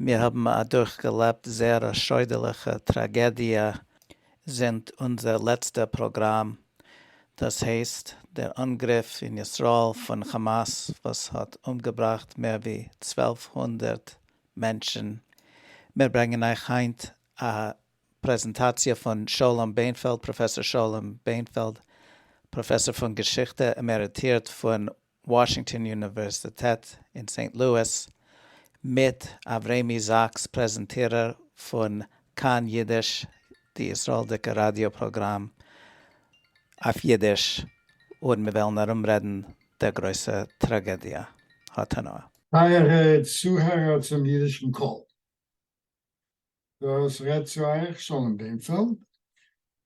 מיר האבן אדורך געלעבט זייער א שוידערליכע טראגעדיע זינט אונזער לעצטע פראגראם, דאס הייסט דער אנגריף אין ישראל פון כאמאס וואס האט אומגעבראכט מער ווי צוועלף הונדערט מענטשן. מיר ברענגען אייך היינט א פרעזענטאציע פון שלום בענפעלד, פראפעסאר שלום בענפעלד, פראפעסאר פון געשיכטע עמעריטירט פון וואשינגטאן אוניווערסיטעט אין סעינט לואיס, מיט אברעמי זאקס פרעזענטירער פון כאן אידיש די ישראלדיקע ראדיא פראגראם אויף אידיש און מיר וועלן ארום רעדן דער גרויסע טראגעדיע האתנאה. טייערע צוהערער צום אידישן קול, דאס רעדט צו אייך שלום בענפעלד,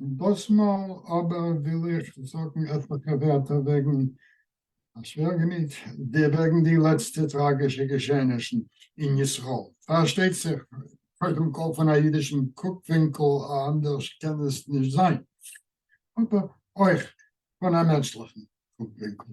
דאסמאל אבער וויל איך זאגן עטליכע ווערטער וועגן א שווערגעניק, וועגן די לעצטע טראגישע געשעענישן אין ישראל. פארשטייט זיך, קודם כל פון א אידישן קוק-ווינקל, אנדערש קען עס נישט זיין, אבער אויך פון א מענטשליכן קוק-ווינקל.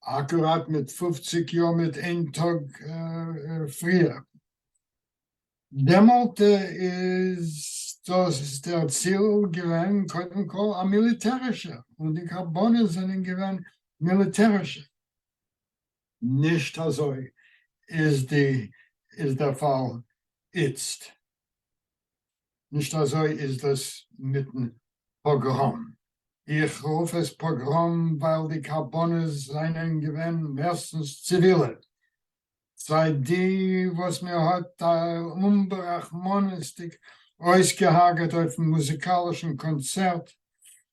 אקוראט מיט פֿופֿציק יאר מיט איין טאג פריער. דעמאלט איז דאס דער ציל געווען קודם כל א מיליטערישע, און די קרבנות זענען געווען מיליטערישע. נישט אזוי איז דער פאל איצט. נישט אזוי איז דאס מיטן פאגראם. איך רוף עס פאגראם ווייל די קרבנות זענען געווען מערסטנס ציווילע, סיי די וואס מען האט טייל אומברחמנות'דיג אויסגעהארגעט אויפן מוזיקאלישן קאנצערט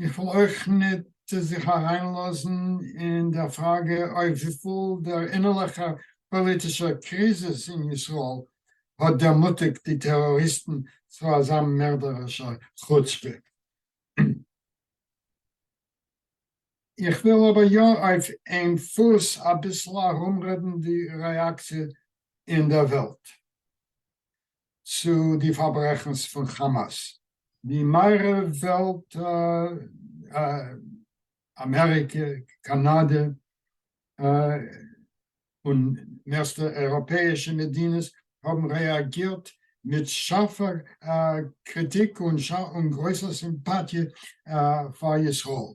איך וויל אויך ניט זיך אַרײַנלאָזן אין דער פֿראַגע אויף וויפֿל דער אינערלעכער פּאָליטישער קריזיס אין ישׂראל האָט דערמוטיקט די טעראָריסטן צו אַזאַ מערדערישער חוצפּה. איך וויל אָבער יאָ אויף איין פֿוס אַ ביסל אַרומרעדן די רעאַקציע אין דער וועלט. צו די פארברעכנס פון כאמאס. די מערב וועלט, אמעריקע, קאנאדע, און מערסטע אייראפעאישע מדינות, האבן רעאגירט מיט שארפע קריטיק און גרויסע סימפאטיע פאר ישראל.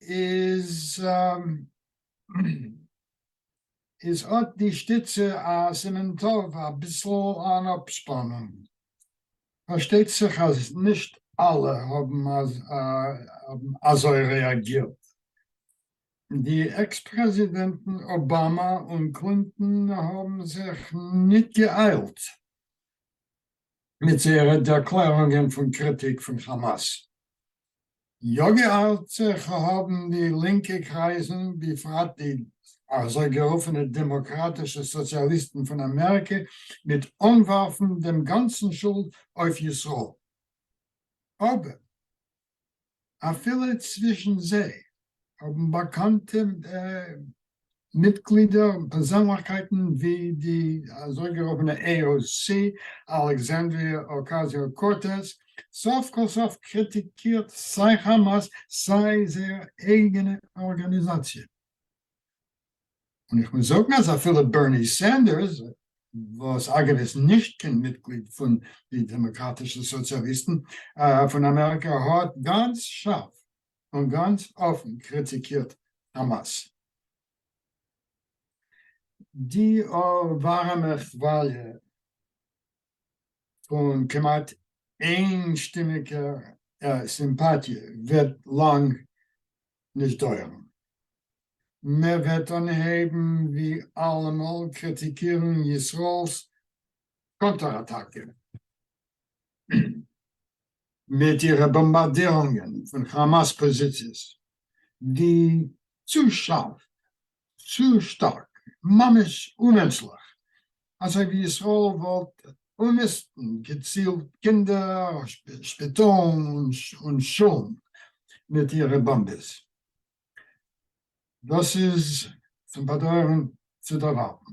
איז איז אט די שטיצע א סימן טוב, אביסל אן אפשפאנונג. פארשטייט זיך אז נישט אלע האבן אזוי רעאגירט. די עקס פרעזידענטן אבאמא און קלינטאן האבן זיך ניט געאיילט מיט זייערע דערקלערונגען פון קריטיק פון כאמאס. יא געארט זיך האבן די לינקע קרייזן בפרט די אזוי גערופענע דעמאקראטישע סאציאליסטן פון אמעריקע מיט אנווארפן דעם גאנצן שולד אויף ישראל אבער אפילו צווישן זיי האבן באקאנטע מיטגלידער און פערזענליכקייטן ווי די אזויגערופענע AOC, אלעקסאנדריא אוקאזיאו-קורטעז, סוף כל סוף קריטיקירט סיי כאמאס סיי זייער אייגענע ארגאניזאציע. און איך מוז זאגן אז אפילו בערני סענדערס, וואס אגב איז נישט קיין מיטגליד פון די דעמאקראטישע סאציאליסטן פון אמעריקא, האט גאנץ שארף און גאנץ אפן קריטיקירט חאמאס. די ווארעמע כוואליע פון כמעט איינשטימיגע סימפאטיע וועט לאנג נישט דויערן. מען וועט אנהייבן ווי אלעמאל קריטיקירן ישראל'ס קאנטער אטאקע. מיט אירע באמבארדירונגען פון כאמאס פאזיציעס, די צו שארף, צו שטארק, ממש אומענטשליך, אזוי ווי ישראל וואלט אומיסטן געצילט קינדער, שפיטאלן און שולן מיט אירע באמבעס. דאס איז צום באדויערן צו דערווארטן.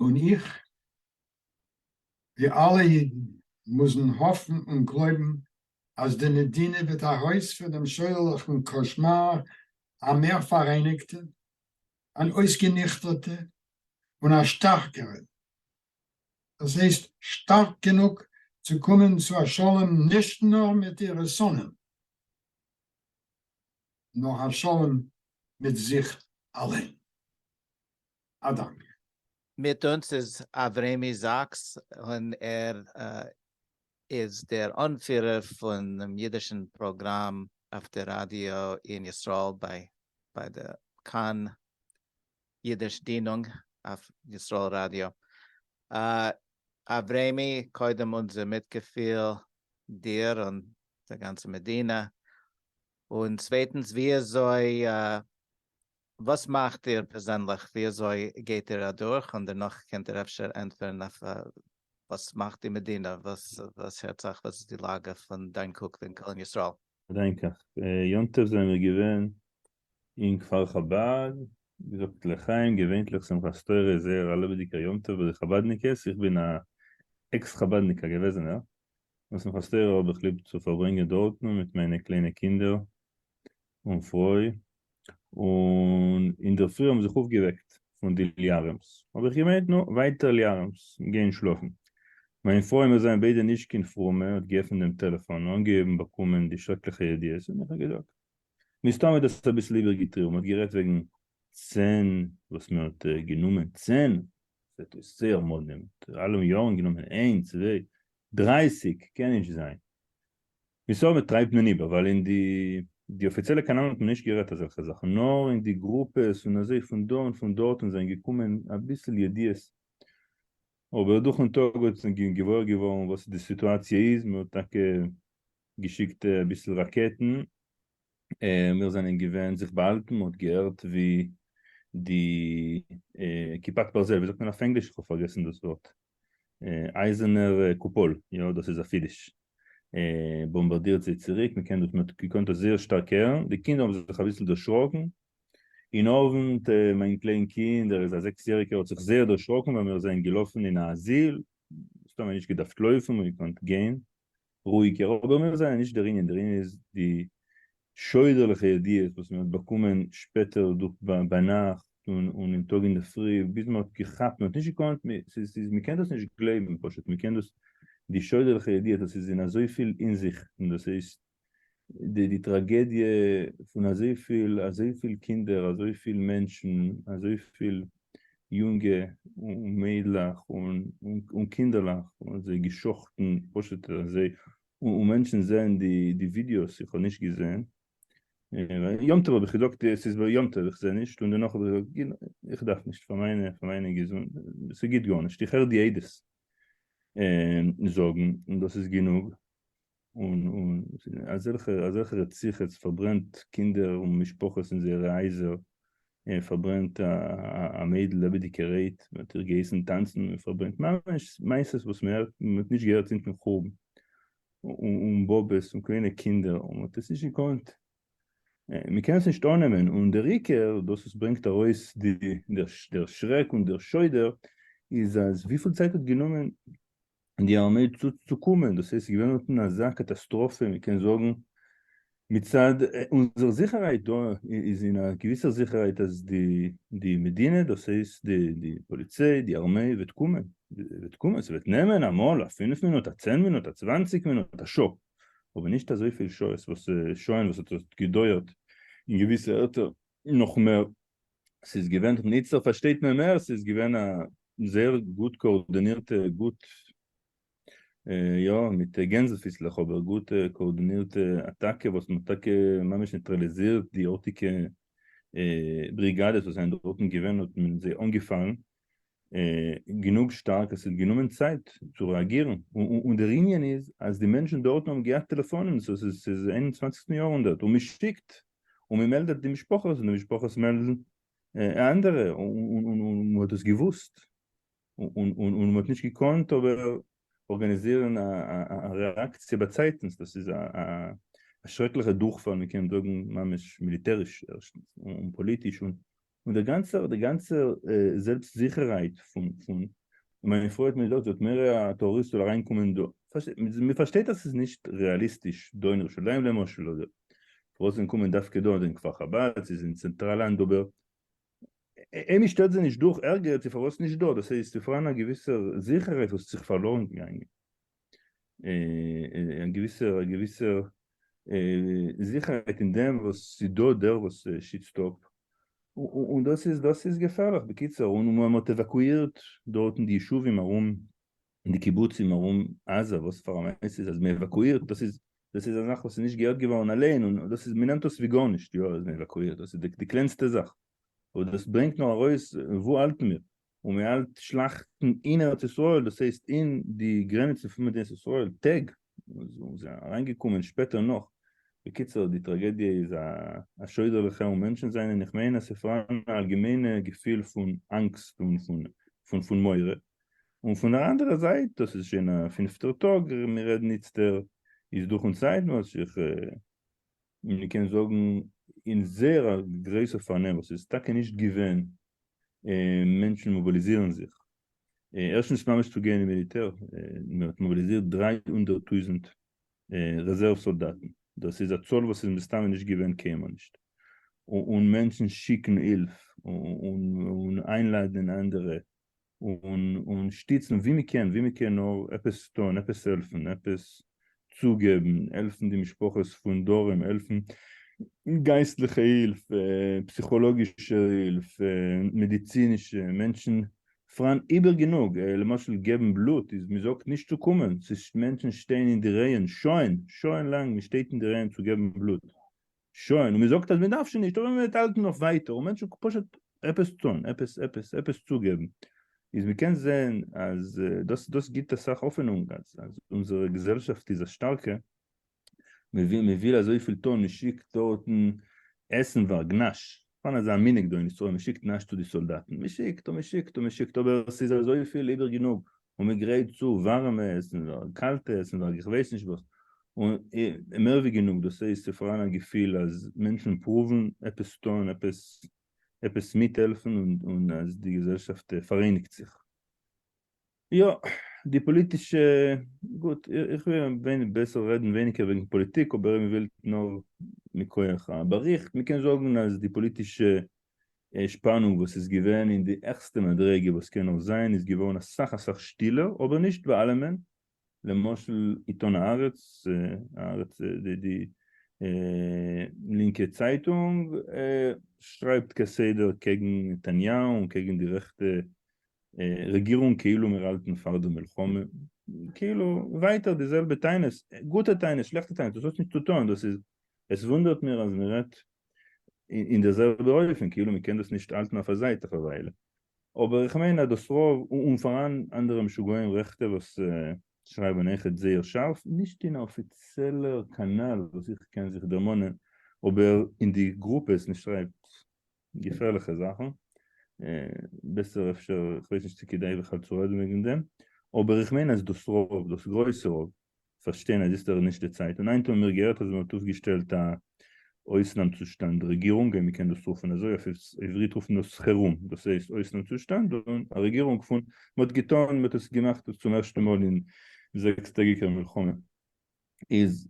און איך, ווי אלע אידן, מוזן האפן און גלויבן אז די מדינה וועט ארויס פון דעם שוידערליכן קאשמאר א מער פאראייניגטע, אן אויסגעניכטערטע, און א שטארקערע. דאס הייסט, שטארק גענוג צו קומען צו א שלום נישט נאר מיט אירע שונאים, נאר א שלום מיט זיך אליין. א דאנק. מיט אונז איז אברעמי זאקס און ער איז דער אנפירער פונעם אידישן פראגראם אויף די ראדיא אין ישראל ביי די כאן אידיש דינונג אויף ישראל ראדיא. אברעמי קודם אונזער מיטגעפיל דיר און די גאנצע מדינה און צווייטנס וויאזוי וואס מאכט איר פערזענליך? ווי אזוי גייט איר אדורך? און דערנאך קענט איר אפשר ענטפערן אויף וואס מאכט די מדינה? וואס הערט זיך? וואס איז די לאגע פון דיין קוק אין קאלין ישראל? געדענקעך יום טוב זענען מיר געווען אין כפר חבד, געזאגט לחיים, געווענטליך שמחת תורה איז זייער א לעבעדיגער יום טוב ביי די חבדניקעס, איך בין א עקס חבדניק א געוועזענער, און שמחת תורה האב איך ליב צו פארברענגען דארטן מיט מיינע קליינע קינדער און פרוי, און אינדערפרי האבן זיך אויפגעוועקט פון די ליארעמס, האב איך געמיינט נו, ווייטער ליארעמס, גיין שלאפן. מיין פרוי, מיר זענען ביידע נישט קיין פרומע, האט געעפנט דעם טעלעפאן, אנגעהויבן באקומען די שרעקליכע ידיעות, און איך האב געזאגט. מסתמא האט דאס אביסל איבערגעטריבן, מ'האט גערעדט וועגן צען, וואס מען האט גענומען צען, ס'האט אויס זייער מאל נעמט אלע יארן גענומען איין, צוויי, דרייסיג, קען נישט זיין. מסתמא טרייבט מען איבער ווייל אין די די אפיציעלע קאנאלן האט מען נישט גערעדט אזעלכע זאכן נאר אין די גרופעס און אזוי פון דא און פון דארטן זענען געקומען אביסל ידיעות אבער דורכן טאג האט מען געוואויר געווארן וואס די סיטואציע איז מען האט טאקע געשיקט אביסל ראקעטן מיר זענען געווען זיך באהאלטן מ'האט געהערט ווי די כיפת ברזל ווי זאגט מען אויף ענגליש? כ'האב פארגעסן דאס ווארט אייזענער קופאל יא דאס איז א חידוש באמבארדירט זיי צוריק מ'קען דאס מ'האט געקאנט דאס זייער שטארק הערן די קינדער האבן זיך אביסל דערשראקן אין אוונט מיין קליין קינד ער איז א זעקס יעריגער האט זיך זייער דערשראקן ווייל מיר זענען געלאפן אין א אזיל סתם נישט געדארפט לויפן מ'קען גיין רואיגער, אבער מיר זענען נישט דער ענין, דער ענין איז די שוידערליכע ידיעות וואס מען האט באקומען שפעטער דורך ביינאכט און און טאג אינדערפרי ביז מען האט געכאפט, מען האט נישט געקאנט, ס'איז מען קען דאס נישט גלייבן פשוט, מען קען דאס די שוידערליכע ידיעות, דאס איז אין אזויפיל אינזיכטן, דאס הייסט די טראגעדיע פון אזויפיל אזויפיל קינדער אזויפיל מענטשן אזויפיל יונגע און מיידלעך און קינדערלעך און זיי געשחט'ן פשוט אזוי און מענטשן זעהן די ווידיאוס איך האב נישט געזעהן יום טוב האב איך געזאגט עס איז ביי יום טוב איך זעה נישט און דערנאך האב איך געזאגט איך דארף נישט פאר מיינע געזונט ס'גיט גארנישט איך הער די עדות זאגן און דאס איז גענוג און אזעלכע אזעלכע רציחות פארברענט קינדער און משפחות אין זייערע הייזער, און פארברענט א מיידל לעבעדיגע רעיט, מען האט איר געהייסן טאנצן און פארברענט ממש מעשות וואס מען הערט מען האט נישט געהערט זינטן חורבן, און באבעס און קליינע קינדער און מען האט עס נישט געקאנט מען קען עס נישט אננעמען, און דער עיקר דאס וואס ברענגט ארויס די דער שרעק און דער שוידער איז אז וויפיל צייט האט גענומען און די ארמיי צו צו קומען, דאס הייסט ס'געווען אונטן אזא קאטאסטראפע, מ'קען זאגן מצד אונזער זיכערהייט דא איז אין א געוויסער זיכערהייט אז די די מדינה דאס הייסט די די פאליציי די ארמיי וועט קומען, וועט קומען, ס'וועט נעמען אמאל א פינף מינוט א צען מינוט א צוואנציג מינוט א שעה, אבער נישט אזויפיל שעות וואס שעה'ן וואס האט געדויערט אין געוויסע ערטער נאך מער ס'איז געווען, און איצטער פארשטייט מען מער, ס'איז געווען א זייער גוט קאארדאנירטע, גוט, יא, מיט גענזל פיסלעך, אבער גוט קאארדאנירטע אטאקע וואס מ'האט טאקע ממש ניטראליזירט די ארטיגע בריגאדעס וואס זענען דארטן געווען, האט מען זיי אנגעפאלן, גענוג שטארק אז ס'האט גענומען צייט צו רעאגירן, און דער ענין איז אז די מענטשן דארטן האבן געהאט טעלעפאנען, סאו ס'איז אינעם איין און צוואנציגסטן יאר הונדערט, און מ'שיקט און מ'מעלדעט די משפחות און די משפחות מעלדן אנדערע, און מ'האט דאס געוואוסט און מ'האט נישט געקאנט אבער ארגאניזירן א רעאקציע באצייטנס, דאס איז א שרעקליכע דורכפאל, מ'קען זאגן ממש מיליטעריש ערשטנס, און פאליטיש, און און דער גאנצער דער גאנצער זעלבסט זיכערהייט פון פון מיין פרוי האט מיר געזאגט זאלט מער א טוריסט זאל אריין קומען דא, מען פארשטייט אז ס'איז נישט רעאליסטיש דא אין ירושלים למשל אדער פארוואס זיי קומען דווקא דא אדער אין כפר חבד ס'איז אין צענטראל לאנד אבער אין מען שטעלט זיי נישט דורך ערגעץ איז פארוואס נישט דא דאס הייסט צו פארהאן א געוויסער זיכערהייט וואס האט זיך פארלוירן געגאנגען. א געוויסע א געוויסע זיכערהייט אין דעם וואס ס'איז דא דער וואס שיצט אפ, און דאס איז דאס איז געפערליך, בקיצור, און מען האט עוואקואירט דארטן די ישובים ארום, די קיבוצים ארום עזה, וואס פאר א מעשה איז אז מען עוואקואירט, דאס איז דאס איז א זאך וואס איז נישט געהערט געווארן אליין, און דאס איז מען נעמט דאס ווי גארנישט, יא אז מען עוואקואירט, דאס איז די קלענסטע זאך, אבער דאס ברענגט נאר ארויס וואו האלטן מיר, און מען האלט שלאכטן אין ארץ ישראל, דאס הייסט אין די גרעניצן פון מדינת ישראל, טעג, און זיי אריין געקומען שפעטער נאך, בקיצור די טראגעדיע איז א שוידערליכע און מענטשן זענען איך מיין אז ס'פאראן א אלגעמיינע געפיל פון אנגסט און פון מורא, און פון דער אנדערע זייט דאס איז שוין א פינפטער טאג מיר רעדן איצטער איז דורך און צייטן וואס איך און מען קען זאגן אין זייער א גרויסע פארנעם וואס איז טאקע נישט געווען, מענטשן מאביליזירן זיך, ערשטנס ממש צו גיין אין מיליטער, מען האט מאביליזירט דרײַ הונדערט טויזנט רעזערוו סאלדאטן, דאס איז א צאל וואס איז מסתמא נישט געווען קיינמאל נישט, און מענטשן שיקן הילף און איינלאדענען אנדערע און שטיצן ווי מען קען, ווי מען קען נאר עפעס טון, עפעס העלפן, עפעס צוגעבן, העלפן די משפחות פון דרום, העלפן גייסטליכע הילף, פסיכאלאגישע הילף, מעדיצינישע, מענטשן פארהאן איבער גענוג, למשל געבן בלוט איז מען זאגט נישט צו קומען, מענטשן שטייען אין די רייען, שוין, שוין לאנג מען שטייט אין די רייען צו געבן בלוט, שוין, און מען זאגט אז מען דארף שוין נישט, אבער מען וועט האלטן נאך ווייטער, און מענטשן פשוט עפעס טון, עפעס עפעס עפעס צוגעבן, איז מען קען זען אז דאס דאס גיבט אסאך האפענונג אז אז אונזערע געזעלשאפט איז א שטארקע, מען וויל מען וויל אזויפיל טון, מען שיקט דארטן עסנווארג נאש, פארן אזא מנהג דא אין ישראל מ'שיקט נאשט צו די סאלדאטן מ'שיקט און מ'שיקט און מ'שיקט אבער ס'איז אזויפיל איבער גענוג און מ'גרייט צו ווארעמע עסן און קאלטע עסן און איך ווייס נישט וואס און מער ווי גענוג דאס הייסט ס'פאראן א געפיל אז מענטשן פרואוון עפעס טון עפעס עפעס מיטהעלפן און אז די געזעלשאפט פאראייניגט זיך. יא, די פאליטישע, גוט, איך וועל בעסער רעדן ווייניגער וועגן פאליטיק, אבער אויב מ'וויל נאר מכח א באריכט, מ'קען זאגן אז די פאליטישע שפאנונג וואס איז געווען אין די העכסטע מדריגה וואס קען נאר זיין איז געווארן אסאך אסאך שטילער, אבער נישט ביי אלעמען, למשל עיתון הארץ, הארץ, די די לינקע צייטונג, שרייבט כסדר קעגן נתניהו און קעגן די רעכטע רעגירונג כאילו מיר האלטן פאר די מלחמה, כאילו ווייטער די זעלבע טענות, גוטע טענות שלעכטע טענות, דאס האט נישט צו טון, דאס איז, עס וואונדערט מיר אז מען רעדט אין די זעלבע אופן, כאילו מען קען דאס נישט האלטן אויף א זייט אויף א וויילע, אבער איך מיין אז דאס רוב, און פאראן אנדערע משוגעים רעכטע וואס שרייבן עכט זייער שארף, נישט אין א אפיציעלער קאנאל וואס איך קען זיך דערמאנען, אבער אין די גרופעס מען שרייבט. געפערליכע זאכן, בעסער אפשר, כ'ווייס נישט צו כדאי בכלל צו רעדן וועגן דעם, אבער איך מיין אז דאס רוב, דאס גרויסע רוב, פארשטייען אז יעצט איז נישט די צייט, און היינט האבן מיר געהערט אז מען האט אויפגעשטעלט א אויסנאם צושטאנד רעגירונג, אויב מען קען דאס רופן אזוי, אויף עברית רופט מען דאס חירום, דאס הייסט אויסנאם צושטאנד, און א רעגירונג פון, מען האט געטון, מען האט עס געמאכט צום ערשטע מאל אין זעקס טעגיקער מלחמה. איז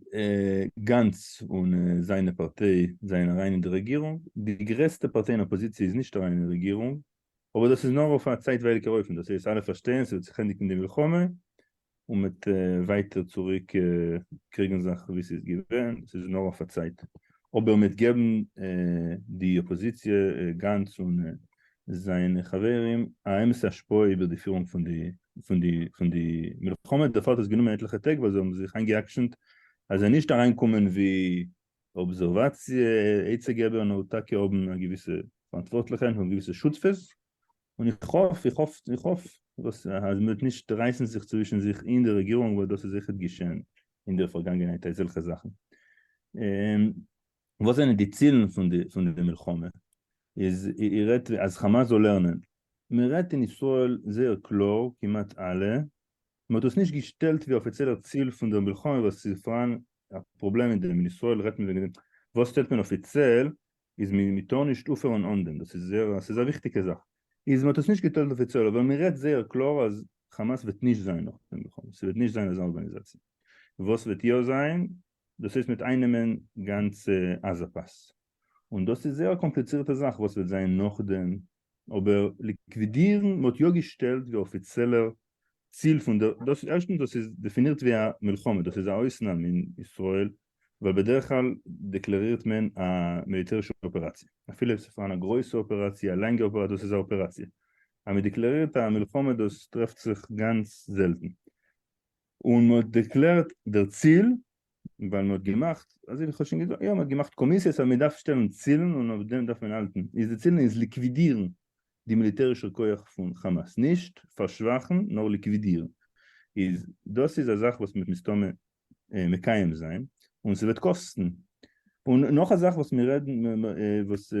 גאנץ און זיינע פארטיי זענען אריין אין די רעגירונג, די גרעסטע פארטיי אין אפאזיציע איז נישט אריין אין די רעגירונג, אבער דאס איז נאר אויף א צייטווייליגער אופן, דאס הייסט אלע פארשטייען ס'וועט זיך ענדיגן די מלחמה און מ'וועט ווייטער צוריק קריגן זאך ווי ס'איז געווען, ס'איז נאר אויף א צייט, אבער מ'וועט געבן די אפאזיציע גאנץ און זיינע חברים א אמת'ע השפעה איבער די פירונג פון די פון די פון די מלחמה, דערפאר האט עס גענומען עטליכע טעג ווייל זיי האבן זיך איינגע'אקשנ'ט אז זיי נישט אריינקומען ווי אבזערוואציע עצה געבער נאר טאקע האבן א געוויסע פאראנטווארטליכע און געוויסע שותפות, און איך האף איך האף איך האף וואס אז מ'וועט נישט רייסן זיך צווישן זיך אין די רעגירונג ווייל דאס איז זיכער געשען אין די פארגאנגענהייט אזעלכע זאכן. וואס זענען די צילן פון די פון די מלחמה? איז איר רעדט אז חאמאס זאל לערנען? מען רעדט אין ישראל זייער קלאר כמעט אלע, מען האט דאס נישט געשטעלט ווי אפיציעלער ציל פון דער מלחמה ווייל עס איז פארהאן א פראבלעם מיט דעם, אין ישראל רעדט מען וועגן דעם, וואס שטעלט מען אפיציעל איז מען מען טאר נישט אויפהערן אן דעם, דאס איז זייער א ס'איז א וויכטיגע זאך, איז מען האט עס נישט געטעלט אפיציעל אבער מען רעדט זייער קלאר אז חאמאס וועט נישט זיין נאך דעם מלחמה, ס'וועט נישט זיין אזא ארגאניזאציע, וואס וועט יא זיין דאס הייסט מיט אייננעמען גאנצע עזה פאס, און דאס איז זייער א קאמפליצירטע זאך וואס וועט זיין נאכדעם, אבער ליקווידירן, מען האט יא געשטעלט ווי אפיציעלער ציל פון דער, דאס ערשטנס דאס איז דעפינירט ווי א מלחמה, דאס איז א אויסנאם אין ישראל, ווייל בדרך כלל דעקלערירט מען א מיליטערישע אפעראציע, אפילו אויב עס איז פארהאן א גרויסע אפעראציע, א לאנגע אפעראציע, דאס איז א אפעראציע, אז מען דעקלערירט א מלחמה דאס טרעפט זיך גאנץ זעלטן. און מען האט דערקלערט דער ציל, ווייל מען האט געמאכט, אזוי ווי איך האב שוין געזאגט, יא מען האט געמאכט קאמיסיעס אז מען דארף שטעלן צילן און אויף דעם דארף מען האלטן, איז די צילן איז ליקווידירן די מיליטערישער כח פון כאמאס, נישט פארשוואכן נאר ליקווידירן, איז דאס איז א זאך וואס מען וועט מסתמא מקיים זיין, און ס'וועט קאסטן, און נאך א זאך וואס מיר רעדן וואס.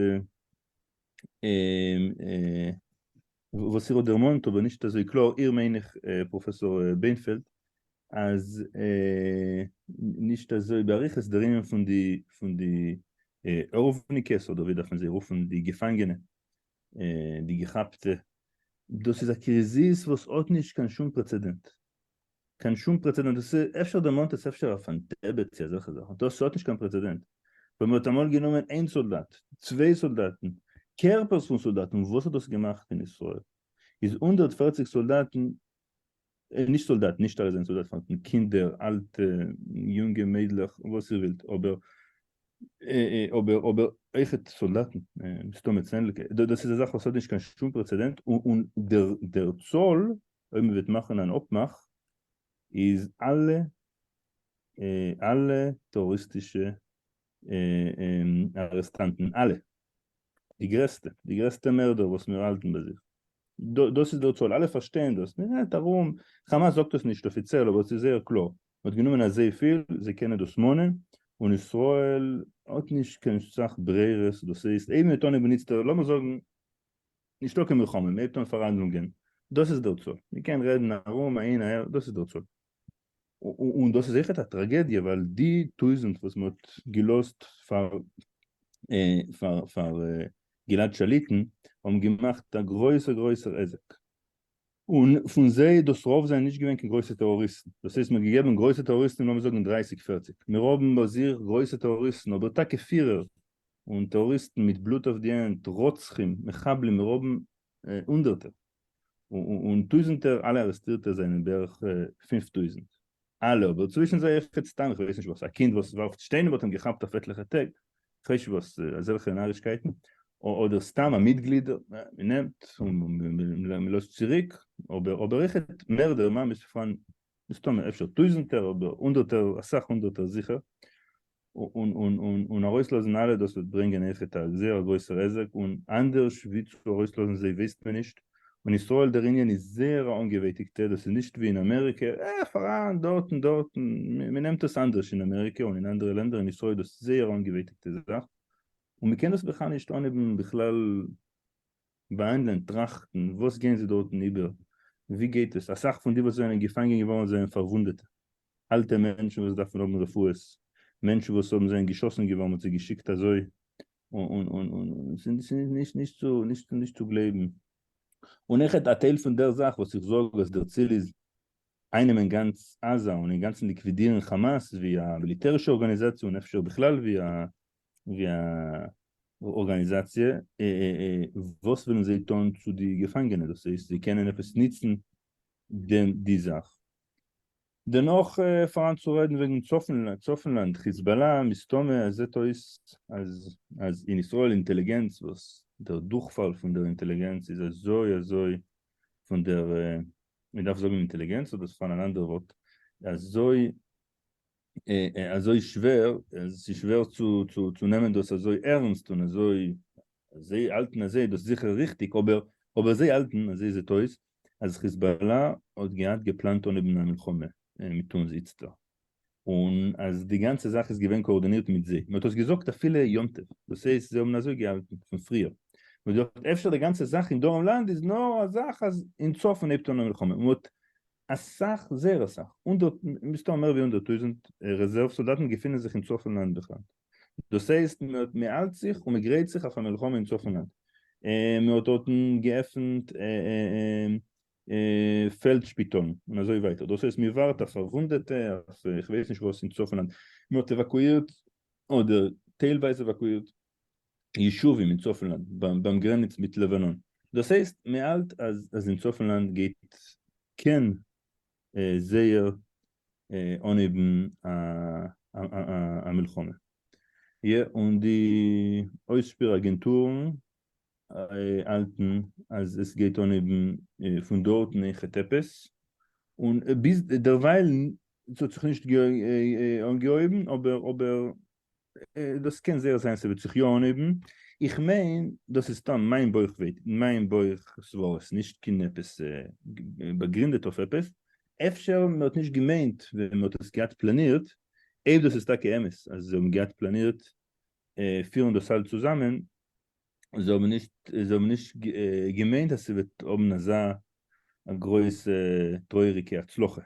וואס איר האט דערמאנט אבער נישט אזוי קלאר, איר מיין איך פראפעסאר בענפעלד, אז נישט אזוי באריכות דער ענין פון די פון די ארויפניקעס אדער ווי דארף מען זיי רופן די געפאנגענע די געכאפטע, דאס איז א קריזיס וואס האט נישט קיין שום פרעצעדענט. קיין שום פרעצעדענט, דאס איז אפשר דערמאנט עס אפשר אויף אן דעבעט צו אזעלכע זאכן, דאס האט נישט קיין פרעצעדענט, ווען מען האט אמאל גענומען איין סאלדאט, צוויי סאלדאטן, קערפערס פון סאלדאטן, וואס האט דאס געמאכט אין ישראל? איז הונדערט פֿערציק סאלדאטן, נישט סאלדאטן, נישט אלע זענען סאלדאטן פארהאן, קינדער, אלטע, יונגע מיידלעך, וואס איר ווילט, אבער אבער אבער אויכעט סאלדאטן, מסתמא צענדליגע, דאס איז א זאך וואס האט נישט קיין שום פרעצעדענט, און דער צאל אויב מען וועט מאכן אן אפמאך איז אלע אלע טעראריסטישע ארעסטאנטן אלע די גרעסטע די גרעסטע מערדער וואס מיר האלטן ביי זיך דאס איז דער צאל אלע פארשטייען דאס מען רעדט ארום כאמאס זאגט עס נישט אפיציעל אבער עס איז זייער קלאר מען האט גענומען אזויפיל זיי קענען דאס מאנען און ישראל האט נישט קיין סאך ברירות דאס הייסט אויב מען וועט אנהייבן נוצט לאמיר זאגן נישטא קיין מלחמה, מען העט אן פאראנדלונגען, דאס איז דער צו, מען קען רעדן ארום אהין אהער, דאס איז דער צו. און דאס איז אויכעט א טראגעדיע ווייל די טויזנט וואס מען האט געלאזט פאר פאר גלעד שליט'ן האבן געמאכט א גרויסער גרויסער עסק. און פון זיי דאס רוב זענען נישט געווען קיין גרויסע טעראריסטן, דאס הייסט מ'האט געגעבן גרויסע טעראריסטן לאמיר זאגן דרייסיג פערציג, מיר האבן ביי זיך גרויסע טעראריסטן אבער טאקע פירער און טעראריסטן מיט בלוט אויף די הענט, רוצחים, מחבלים, מיר האבן הונדערטער און טויזנטער, אלע ארעסטירטע זענען בערך פֿינף טויזנט. אלע, אבער צווישן זיי אויך די סתם איך ווייס נישט וואס, א קינד וואס ווארפט שטיינער וואלט אים געכאפט אויף עטליכע טעג, איך ווייס נישט וואס, אזעלכע נארישקייטן, אדער סתם א מיטגליד, מען נעמט און מען לאזט צוריק, אבער אבער אויך מערדער ממש פארהאן מסתמא אפשר טויזענטער אבער הונדערטער אסאך הונדערטער זיכער, און ארויסלאזן אלע דאס וועט ברענגען אויכעט א זייער גרויסער היזק און אנדערש ווי צו ארויסלאזן זיי ווייסט מען נישט, און ישראל דער יוניאן איז זייער א אנגעווייטיגטע דאס איז נישט ווי אין אמעריקע אה פאראן דארטן דארטן מען נעמט עס אנדערש אין אמעריקע און אין אנדערע לענדער אין ישראל דאס זייער אנגעווייטיגטע זאך און מען קען דאס בכלל נישט אנהייבן בכלל באַהאַנדלען, טראַכטן, וואָס גייען זיי דאָרטן איבער, ווי גייט עס, אַ סך פון די וואָס זיינען געפאַנגען געוואָרן זיינען פאַרוואונדעטע, אַלטע מענטשן וואָס דאַרפן האָבן רפואות, מענטשן וואָס האָבן זיינען געשאָסן געוואָרן, מ'האָט זיי געשיקט אַזוי און און און און, ס'איז נישט נישט צו נישט נישט צו גלייבן. און איך האַלט אַ טייל פון דער זאַך וואָס איך זאָג אַז דער ציל איז איינעמען גאַנץ עזה און אינגאַנצן ליקווידירן כאַמאַס ווי אַ מיליטערישע אָרגאַניזאַציע און אפשר בכלל ווי אַ ווי א ארגאניזאציע, וואס ווילן זיי טון צו די געפאנגענע, דאס הייסט זיי קענען עפעס ניצן די זאך. דערנאך פארהאן צו רעדן וועגן צפון לאנד, חיזבאלא, מסתמא עס זעט אויס אז אין ישראל אינטעליגענץ וואס דער דורכפאל פון דער אינטעליגענץ איז אזוי אזוי פון דער, מען דארף זאגן אינטעליגענץ אדער ס'פארהאן אן אנדערע ווארט, אזוי אזוי שווער, עס איז שווער צו נעמען דאס אזוי ערענסט און אזוי, זיי האלטן אז זיי דאס זיכער ריכטיג, אבער אבער זיי האלטן, אזוי זעט אויס, אז חיזבאלא האט געהאט געפלאנט אנהייבן א מלחמה מיט אונז איצטער, און אז די גאנצע זאך איז געווען קאארדינירט מיט זיי, מען האט עס געזאגט אפילו יום טוב, דאס הייסט זיי האבן אזוי געהאלטן פון פריער, מען האט געזאגט אפשר די גאנצע זאך אין דרום לאנד איז נאר א זאך אז אין צפון הייבט אן א מלחמה, מען האט אסאך, זייער אסאך, הונדערט, מסתם מער ווי הונדערט טויזענט, רעזערוו סאלדאטן געפינען זיך אין צפון לאנד בכלל. דאס הייסט מען האלט זיך און מען גרייט זיך אויף א מלחמה אין צפון לאנד. מען האט דארטן געעפנט פעלד שפיטאלן און אזוי ווייטער. דאס הייסט מען ווארט אויף פארוואונדעטע, אויף איך ווייס נישט וואס אין צפון לאנד. מען האט עוואקואירט אדער טיילווייז עוואקואירט ישובים אין צפון-לאנד ביים גרעניץ מיט לבנון. דאס הייסט מען האלט אז אין צפון-לאנד גייט קען זייער אנהייבן א מלחמה. יא, און די אויסשפיר אגענטורן האלטן אז עס גייט אנהייבן פון דארטן אין חת עפעס, און ביז דערווייל האט זיך נישט אנגעהויבן אבער דאס קען זייער זיין ס'וועט זיך יא אנהויבן, איך מיין דאס איז סתם מיין בויך ווייט מיין בויך סברות נישט קיין עפעס באגרינדעט אויף עפעס, אפשר מען האט נישט געמיינט ווען מען האט עס געהאט פלאנירט, אויב דאס איז טאקע אמת אז זיי האבן געהאט פלאנירט פירן דאס אלץ צוזאמען, זיי האבן נישט זיי האבן נישט געמיינט אז ס'וועט האבן אזא גרויסע טרויעריגע הצלחה.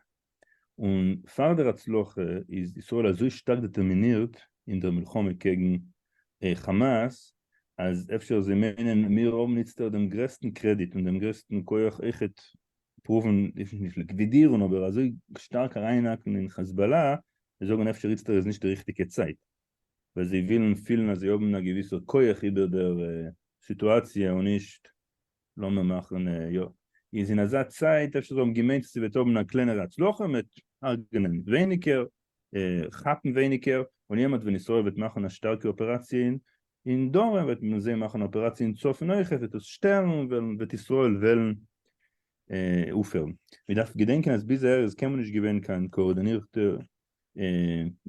און פאר דער הצלחה איז ישראל אזוי שטארק דעטערמינירט אין דער מלחמה קעגן חאמאס, אז אפשר זיי מיינען מיר האבן איצטערט דעם גרעסטן קרעדיט און דעם גרעסטן כח אויכעט פרואוון, נישט ליקווידירן אבער אזוי שטארק אריינהאקן אין חזבאלא, זיי זאגן אפשר איצטערט איז נישט די ריכטיגע צייט, ווייל זיי ווילן פילן אז זיי האבן א געוויסער כח איבער דער סיטואציע און נישט לאמיר מאכן יא. איז אין אזא צייט אפשר זיי האבן געמיינט אז ס'וועט האבן א קלענערע הצלחה, מ'וועט הרג'נען ווייניגער, כאפן ווייניגער, און יעמאלט ווען ישראל וועט מאכן א שטארקע אפעראציע אין דרום וועט מען זיי מאכן א אפעראציע אין צפון אויך, עס וועט דאס שטערן און וועלן וועט ישראל וועלן אויפהערן. מ'דארף געדענקען אז ביז אהער איז קיינמאל נישט געווען קיין קאארדינירטע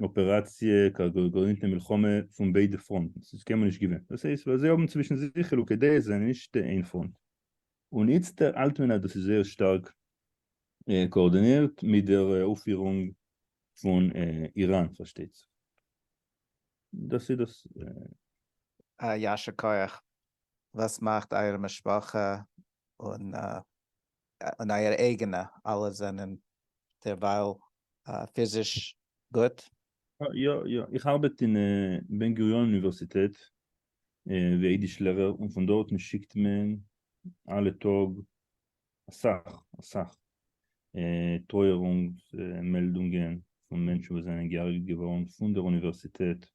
אפעראציע גרעניצן מלחמה פון ביידע פראנטן ס'איז קיינמאל נישט געווען דאס הייסט ווייל זיי האבן צווישן זיך חילוקי דעות זיי זענען נישט איין פראנט און איצטער האלט מען אז דאס איז זייער שטארק קאארדינירט מיט דער אויפפירונג פון איראן פארשטייט זיך דאס איז דאס. א יישר כח וואס מאכט אייער משפחה און און אייער אייגענע, אלע זענען דערווייל פיזיש גוט? יא יא, איך ארבעט אין בן גוריון אוניווערסיטעט ווי אידיש לערער און פון דארטן שיקט מען אלע טאג אסאך אסאך טרויערונגס מעלדונגען פון מענטשן וואס זענען געהרג'ט געווארן פון דער אוניווערסיטעט,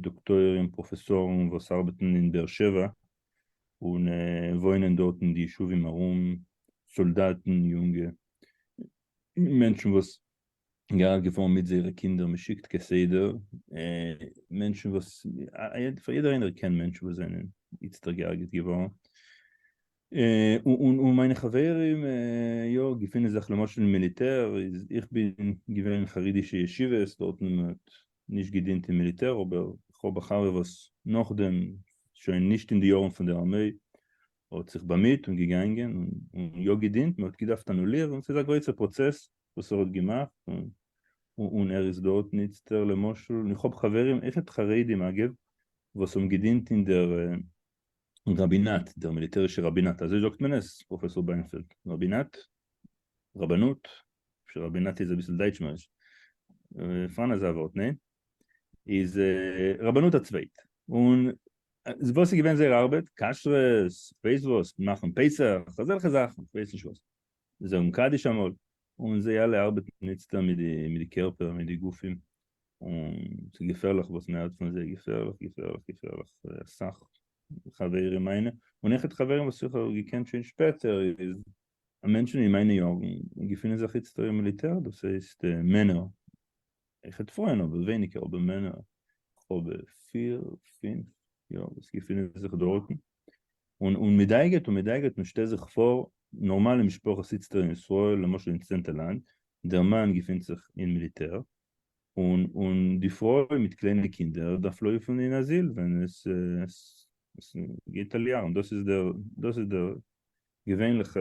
דאקטוירים, פראפעסארן וואס ארבעטן אין באר שבע, און וואוינען דארט אין די ישובים ארום, סאלדאטן, יונגע מענטשן וואס געהאלט געפארן מיט זייערע קינדער, מען שיקט כסדר מענטשן וואס, פאר יעדער איינער קען מענטשן וואס זענען איצטער געהארגעט געווארן, און און מיינע חברים יא געפינען זיך למשל אין מיליטער, איך בין געווען אין חרדישע ישיבות דארטן האט נישט געדינט אין מיליטער אבער איך האב א חבר וואס נאכדעם, שוין נישט אין די יארן פון די ארמעי, האט זיך באמיט און געגאנגען און יא געדינט, מ'האט געדארפט אנולירן, ס'איז א גרויסע פראצעס וואס ער האט געמאכט און ער איז דארט איצטער למשל, און איך האב חברים, עכפ חרדים אגב, וואס האבן געדינט אין דער ראבינאט, דער מיליטערישער ראבינאט, אזוי זאגט מען עס, פראפעסאר בלאמפעלד? ראבינאט? רבנות? אפשר ראבינאט איז אביסל דייטשמעריש, פאראן אזא ווארט, ניין? איז רבנות א צווייט, און וואס איז געווען זייער ארבעט? כשרות, כ'ווייס וואס, מאכן פסח, אזעלכע זאכן, כ'ווייס נישט וואס. זאגן קדיש אמאל, און זיי אלע ארבעטן איצטער מיט די קערפער מיט די גופים, און ס'איז געפערליך וואס מען הערט פון זיי, געפערליך געפערליך געפערליך, אסאך חברים מיינע, און איך האב חברים וואס איך האב געקענט שוין שפעטער, איז א מענטשן אין מיינע יארן געפינען זיך איצטער אין מיליטער, דאס הייסט מענער, איך האב פרויען אבער ווייניגער, אבער מענער, איך האב פיר פינף יאר וואס געפינען זיך דארטן, און און מ'דייגעט און מ'דייגעט און שטעל זיך פאר נארמאלע משפחה זיצט אין ישראל למשל אין צענטע לאנד דער מאן געפינט זיך אין מיליטער און און די פרוי מיט קליינע קינדער דארף לויפן אין אזיל ווען עס עס גייט אליארם דאס איז דער דאס איז דער געווענליכע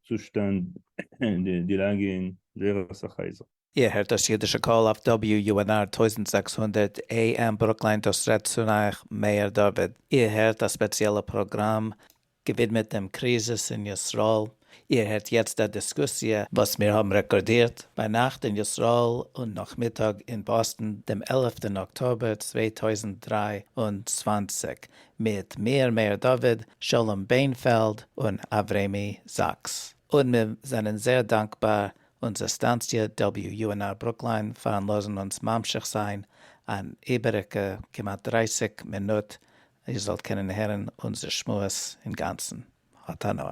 צושטאנד און די לאגע אין זייער אסאך הייזער. איר הערט דאס אידישע קול אויף WUNR טויזנט זעקס הונדערט AM ברוקליין דאס רעדט צו אייך מאיר דוד. איר הערט א ספעציעלע פראגראם געווידמעט דעם קריזיס אין ישראל. איר הערט יעצט א דיסקוסיע וואס מיר האבן רעקארדירט ביינאכט אין ישראל און נאכמיטאג אין באסטן דעם עלעפטן אקטאבער צוויי טויזנט דרײַ און צוואַנציק מיט מיר מאיר דוד, שלום בענפעלד און אברעמי זאקס. און מיר זענען זייער דאנקבאר אונזער סטאנציע WUNR ברוקליין פארן לאזן אונז ממשיך זיין אן איבעריגע כמעט דרײַסיק מינוט איר זאלט קענען הערן אונזער שמועס אינגאנצן. האט הנאה.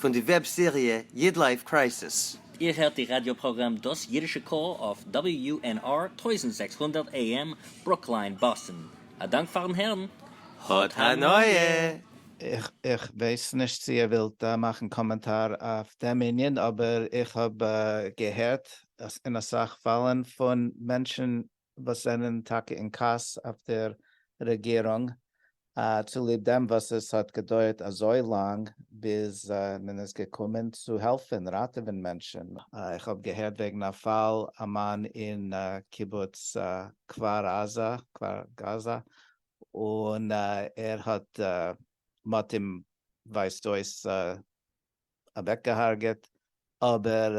פון די וועב סעריע איד לייף קרייסיס. איר הערט די ראדיא פראגראם דאס אידישע קול אויף WUNR טויזנט זעקס הונדערט AM ברוקליין באסטן. א דאנק פארן הערן. האט הנאה! איך ווייס נישט צו איר ווילט מאכן קאמענטאר אויף דעם ענין, אבער איך האב געהערט אין אסאך פאלן פון מענטשן וואס זענען טאקע אין כעס אויף דער רעגירונג צוליב דעם וואס עס האט געדויערט אזוי לאנג ביז מען איז געקומען צו העלפן ראטעווען מענטשן. איך האב געהערט וועגן א פאל א מאן אין קיבוץ כפר עזה, כפר גאזא, און ער האט, מ'האט אים ווייזט אויס אוועקגעהארגעט, אבער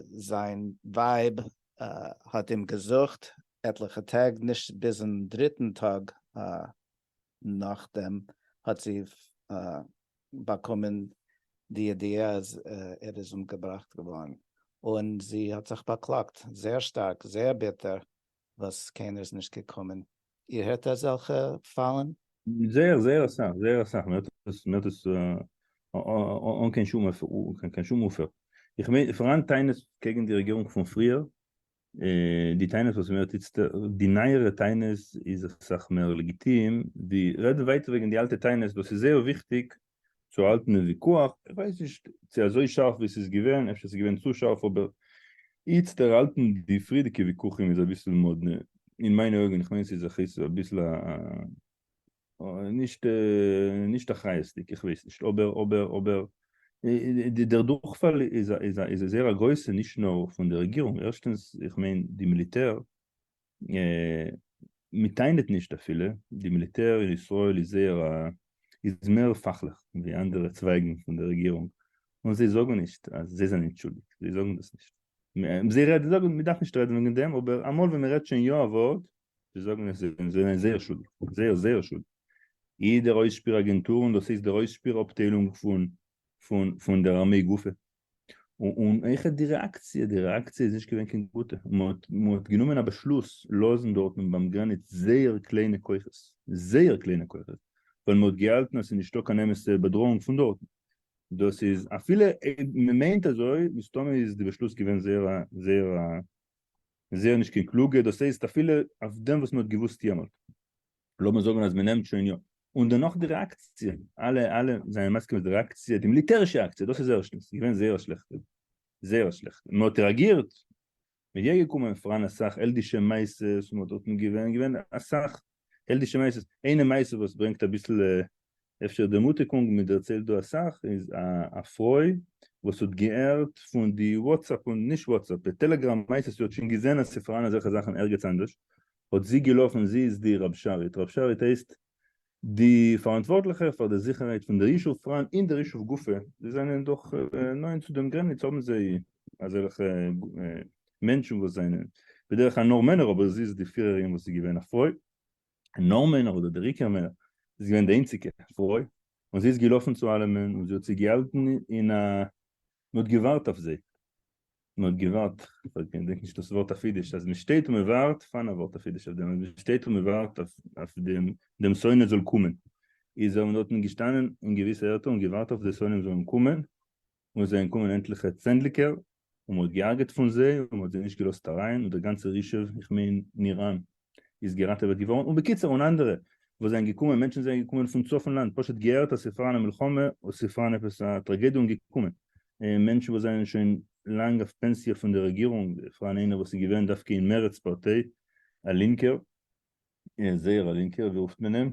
זיין ווייב האט אים געזוכט עטליכע טעג, נישט ביזן דריטן טאג נאכדעם האט זי באקומען די ידיעה אז ער איז אומגעבראכט געווארן, און זי האט זיך באקלאגט זייער שטארק, זייער ביטער, וואס קיינער איז נישט געקומען, איר הערט אזעלכע פאלן? זייער זייער אסאך, זייער אסאך, מען הערט עס אן קיין שום אפער, איך מיין פאראן טענות קעגן די רעגירונג פון פריער, די טענות וואס מען הערט איצטער, די נייערע טענות איז אסאך מער לעגיטים, רעדן ווייטער וועגן די אלטע טענות, דאס איז זייער וויכטיג, צו האלטן דעם וויכוח, איך ווייס נישט צו אזוי שארף ווי ס'איז געווען, אפשר ס'איז געווען צו שארף אבער איצט ערהאלטן די פריערדיגע וויכוחים איז אביסל מאדנע אין מיינע אויגן, איך מיין ס'איז אביסל א נישט נישט אחריות'דיג, איך ווייס נישט אבער אבער אבער דער דורכפאל איז איז זייער א גרויסע נישט נאר פון די רעגירונג, ערשטענס איך מיין די מיליטער מ'טענה'ט נישט אפילו, די מיליטער אין ישראל איז זייער א, איז מער פאכליך ווי אנדערע צווייגן פון די רעגירונג, און זיי זאגן נישט אז זיי זענען שולדיג, זיי זאגן דאס נישט. זיי רעדן, זיי זאגן מ'דארף נישט רעדן וועגן דעם, אבער אמאל ווען מ'רעדט שוין יא א ווארט, זיי זאגן עס זיי זענען זייער שולדיג, זייער זייער שולדיג. איעדער אויסשפיר אגענטור, און דאס הייסט דער אויסשפיר אפטיילונג פון פון פון דער ארמיי גופא, און אויכעט די רעאקציע, די רעאקציע איז נישט געווען קיין גוטע, מען האט גענומען א באשלוס לאזן דארטן ביים גרעניץ זייער קליינע כוחות, זייער קליינע כוחות, ווייל מען האט געהאלטן אז ס'איז נישטא קיין אמת'ע באדראאונג פון דארטן, דאס איז אפילו מען מיינט אזוי, מסתמא איז די באשלוס געווען זייער זייער זייער נישט קיין קלוגע, דאס הייסט אפילו אויף דעם וואס מען האט געוואוסט יעמאלט. לאמיר זאגן אז מ'נעמט שוין יא, און דערנאך די רעאקציע, אלע אלע זענען מסכים אז די רעאקציע, די מיליטערישע אקציע, דאס איז ערשטנס, איז געווען זייער שלעכט, זייער שלעכט, און מ'האט רעאגירט, מ'איז יא געקומען פאראן אסאך העלדישע מעשות, און מ'האט דארטן געווען, געווען אסאך העלדישע מעשות, איינע מעשה וואס ברענגט אביסל אפשר דערמוטיגונג מען דערציילט דא אסאך איז א פרוי וואס האט געהערט פון די וואטסעפפ און נישט וואטסעפפ די טעלעגראם מייסד זי האט שוין געזען אז ס'פארהאן אזעלכע זאכן ערגעץ אנדערש האט זי געלאפן זי איז די רב שרית רב שרית הייסט די פאראנטווארטליכע פאר די זיכערהייט פון דער ישוב פראן אין דער ישוב גופא זיי זענען דאך נאענט צו דעם גרעניץ האבן זיי אזעלכע מענטשן וואס זענען בדרך כלל נאר מענער אבער זי איז די פירערין וואס איז געווען א פרוי נאָרמען אָדער די ריקערמער איז געװען די אײנציקע פֿרױ, און זי איז געלאָפֿן צו אַלעמען, און זי האָט זײ געהאַלטן אין אַ מע האָט געװאַרט אַף זײ. מע האָט געװאַרט, כ'װײס ניט, כ'דענק נישט דאָס װאָרט אַף ייִדיש, אַז מע שטײט און מע װאַרט, פֿײַנע װאָרט אַף ייִדיש אַף דעם, אַז מע שטײט און מע װאַרט אַף, אַף דעם, דעם שׂונא זאָל קומען, איז ער און דאָרטן געשטאַנען אין געװיסע ערטער און געװאַרט אַף די שׂונאים זאָלן קומען, און עס זענען געקומען עטליכע צענדליגער און מ'האט גע'הרג'עט פון זיי און מ'האט זיי נישט געלאזט אריין און דער גאנצער ישוב, איך מיין נירן, איז געראטעוועט געווארן, און בקיצור און אנדערע וואס זענען געקומען, מענטשן זענען געקומען פון צפון לאנד פשוט געהערט אז ס'פאראן א מלחמה או ס'פאראן עפעס א טראגעדיע און געקומען, מענטשן וואס זענען שוין לאנג אויף פענסיע פון די רעגירונג, פאראן איינער וואס איז געווען דווקא אין מרצ פארטיי, א לינקער, זייער א לינקער, ווי רופט מען אים?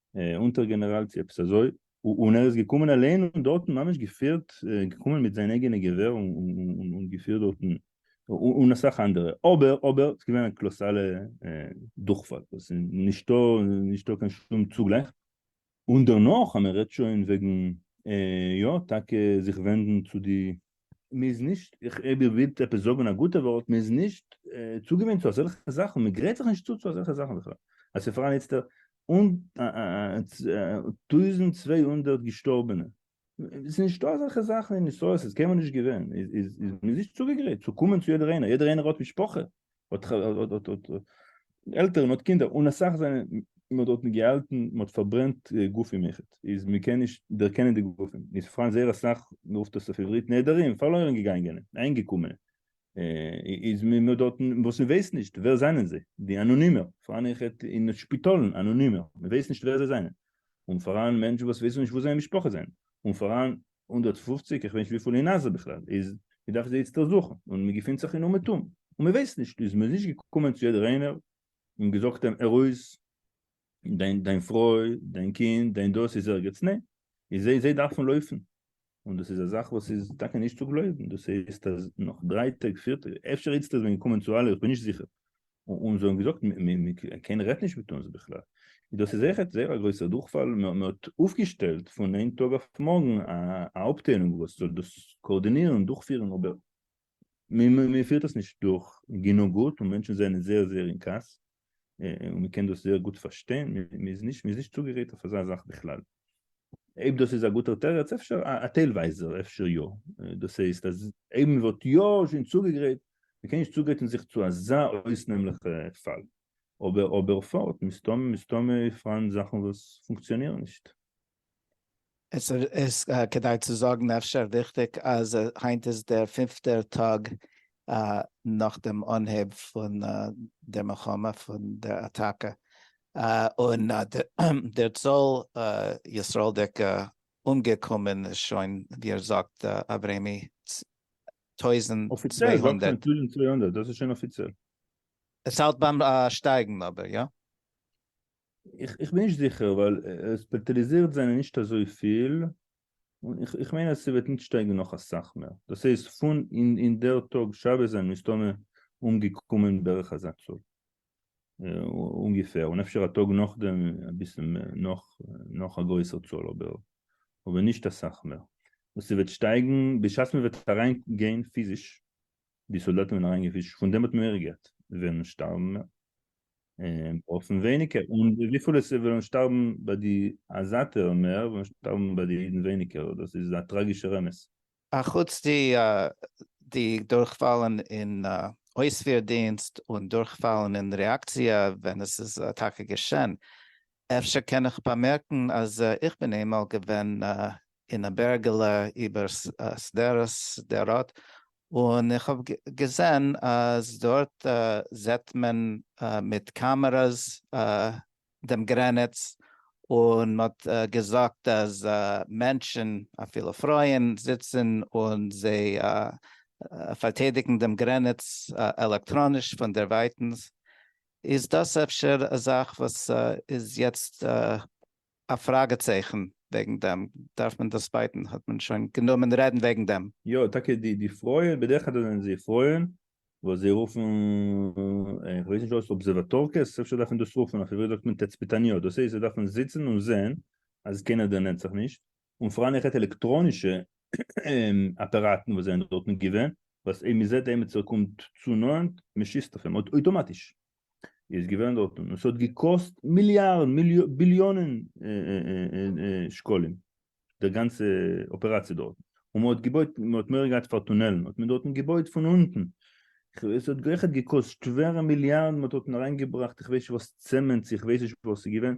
אונטער גענעראלציע עפעס אזוי, און ער איז געקומען אליין און דארטן ממש געפירט, געקומען מיט זיין אייגענע געווער און געפירט דארטן, און אסאך אנדערע, אבער אבער ס'איז געווען א קלאסאלע דורכפאל, וואס איז נישטא נישטא קיין שום צוגלייך, און דערנאך אז מ'רעדט שוין וועגן יא טאקע זיך ווענדן צו די מען איז נישט, איך אויב איר ווילט עפעס זאגען א גוטע ווארט, מען איז נישט צוגעוואינט צו אזעלכע זאכען, מען גרייט זיך נישט צו צו אזעלכע זאכען בכלל, אז ס'איז פארהאן איצטער טויזענט צוויי הונדערט געשטארבענע, ס'איז נישטא אזעלכע זאכען אין ישראל, ס'איז קיינמאל נישט געווען, איז מען איז נישט צוגעגרייט צו קומען צו יעדער איינער, יעדער איינער האט משפחה, עלטערן האט קינדער און אסאך זענען מען האט דארט געהאלטן מען האט פארברענט גופים איך איז מען קען נישט דערקענען די גופים איז פארהאן זייער אסאך מען רופט עס אויף עברית נעדרים פארלוירן געגאנגענע איינגעקומענע איז מען מען האט דארט וואס מען ווייסט נישט ווער זענען זיי די אנאנימער פארהאן איך אין שפיטאלן אנאנימער מען ווייסט נישט ווער זיי זענען און פארהאן מענטשן וואס ווייסן נישט וואו זייער משפחה זענען און פארהאן הונדערט פֿופֿציק איך ווייס נישט וויפיל אין עזה בכלל איז, מ'דארף זיי איצטער זוכן, און מ'געפינט זיך אין אומעטום, און מ'ווייסט נישט, איז מ'איז נישט געקומען צו יעדער איינער און געזאגט אים הער אויס, דיין דיין פרוי, דיין קינד, דיין דאס איז ערגעץ, ניין, איז זיי זיי דארפן לויפן, און דאס איז א זאך וואס איז טאקע נישט צו גלויבן, דאס הייסט אז נאך דריי טעג, פיר טעג, אפשר איצטער איז מען געקומען צו אלע, איך בין נישט זיכער, און זיי האבן געזאגט קיינער רעדט נישט מיט אונז בכלל, דאס איז עכט זייער א גרויסער דורכפאל, מען האט אויפגעשטעלט פון איין טאג אויף מארגן א אפטיילונג וואס זאל דאס קאארדינירן און דורכפירן אבער מען פירט עס נישט דורך גענוג גוט און מענטשן זענען זייער זייער אין כעס און מען קען דאס זייער גוט פארשטיין, מען איז נישט צוגערעדט אויף אזא זאך בכלל. אויב דאס איז א גוטער תירוץ אפשר א טיילווייזער אפשר יא, דאס הייסט אז אויב מען וואלט יא שוין צוגעגרייט, מען קען נישט צוגרייטן זיך צו אזא אויסנעמליכע פאל, אבער אבער פארט מסתמא מסתמא פארהאן זאכן וואס פונקציאנירן נישט. עס איז כדאי צו זאגן אפשר וויכטיג אז היינט איז דער פינפטער טאג נאך דעם אנהייב פון דער מלחמה, פון דער אטאקע, און דער צאל ישראלדיקע אומגעקומען איז שוין, ווי ער זאגט, אברעמי, טויזנט צוויי הונדערט. דאס איז שוין אפיציעל. עס האלט ביים שטייגן אבער, יא? איך בין נישט זיכער, ווייל עס פאטאליזירט זענען נישט אזויפיל, און איך איך מיין אז ס'וועט נישט שטייגן נאך אסאך מער, דאס הייסט פון אין דער טאג שבת זענען מסתמא אומגעקומען בערך אזא צאל, אומגעפער, און אפשר א טאג נאכדעם אביסל מער, נאך נאך א גרויסער צאל אבער אבער נישט אסאך מער, און ס'וועט שטייגן בשעת מ'וועט אריין גיין פיזיש די סאלדאטן ווערן אריינגעפישט פון דעם האט מען מער געלט וועלן שטארבן מער און ברויכן ווייניגער און וויפיל עס וועלן שטארבן ביי די עזת'ע מער וועלן שטארבן ביי די אידן ווייניגער דאס איז א טראגישער אמת. אחוץ די די דורכפאלן אין אויספיר דינסט און דורכפאלן אין רעאקציע ווען עס איז טאקע געשען. אפשר קען איך באמערקן אז איך בין איינמאל געווען אין א בערגעלע איבער שדרות שדרות, און איך האב געזען אז דארט זעט מען מיט קאמערעס דעם גרעניץ, און מען האט געזאגט אז מענטשן אפילו פרויען זיצן און זיי פארטיידיגן דעם גרעניץ עלעקטראניש פון דערווייטנס, איז דאס אפשר א זאך וואס איז יעצט א פראגע צייכן וועגן דעם, דארף מען דאס בייטן, האט מען שוין גענומען רעדן וועגן דעם. יא טאקע די די פרויען בדרך כלל זענען זיי פרויען וואס זיי רופן איך ווייס נישט אויס אבזעוואטארקעס אפשר דארף מען דאס רופן אויף עברית זאגט מען תצפיתניות דאס הייסט זיי דארפן זיצן און זעהן אז קיינער דערנענט זיך נישט און פאראן איך הערט עלעקטראנישע אפעראטן וואס זענען דארטן געווען וואס אויב מען זעהט עמיצער קומט צו נאנט מען שיסט אויף אים אויטאמאטיש. איז געווען דארט און עס האט געקאסט מיליארדן ביליאנען שקלים די גאנצע אפעראציע דארט און מען האט געבויט מען האט מורא געהאט פאר טונעלן האט מען דארטן געבויט פון אונטן עס האט גערעכענט געקאסט שווערע מיליארדן מען האט דארטן אריינגעבראכט איך ווייס נישט וואס צעמענט איך ווייס נישט וואס ס'איז געווען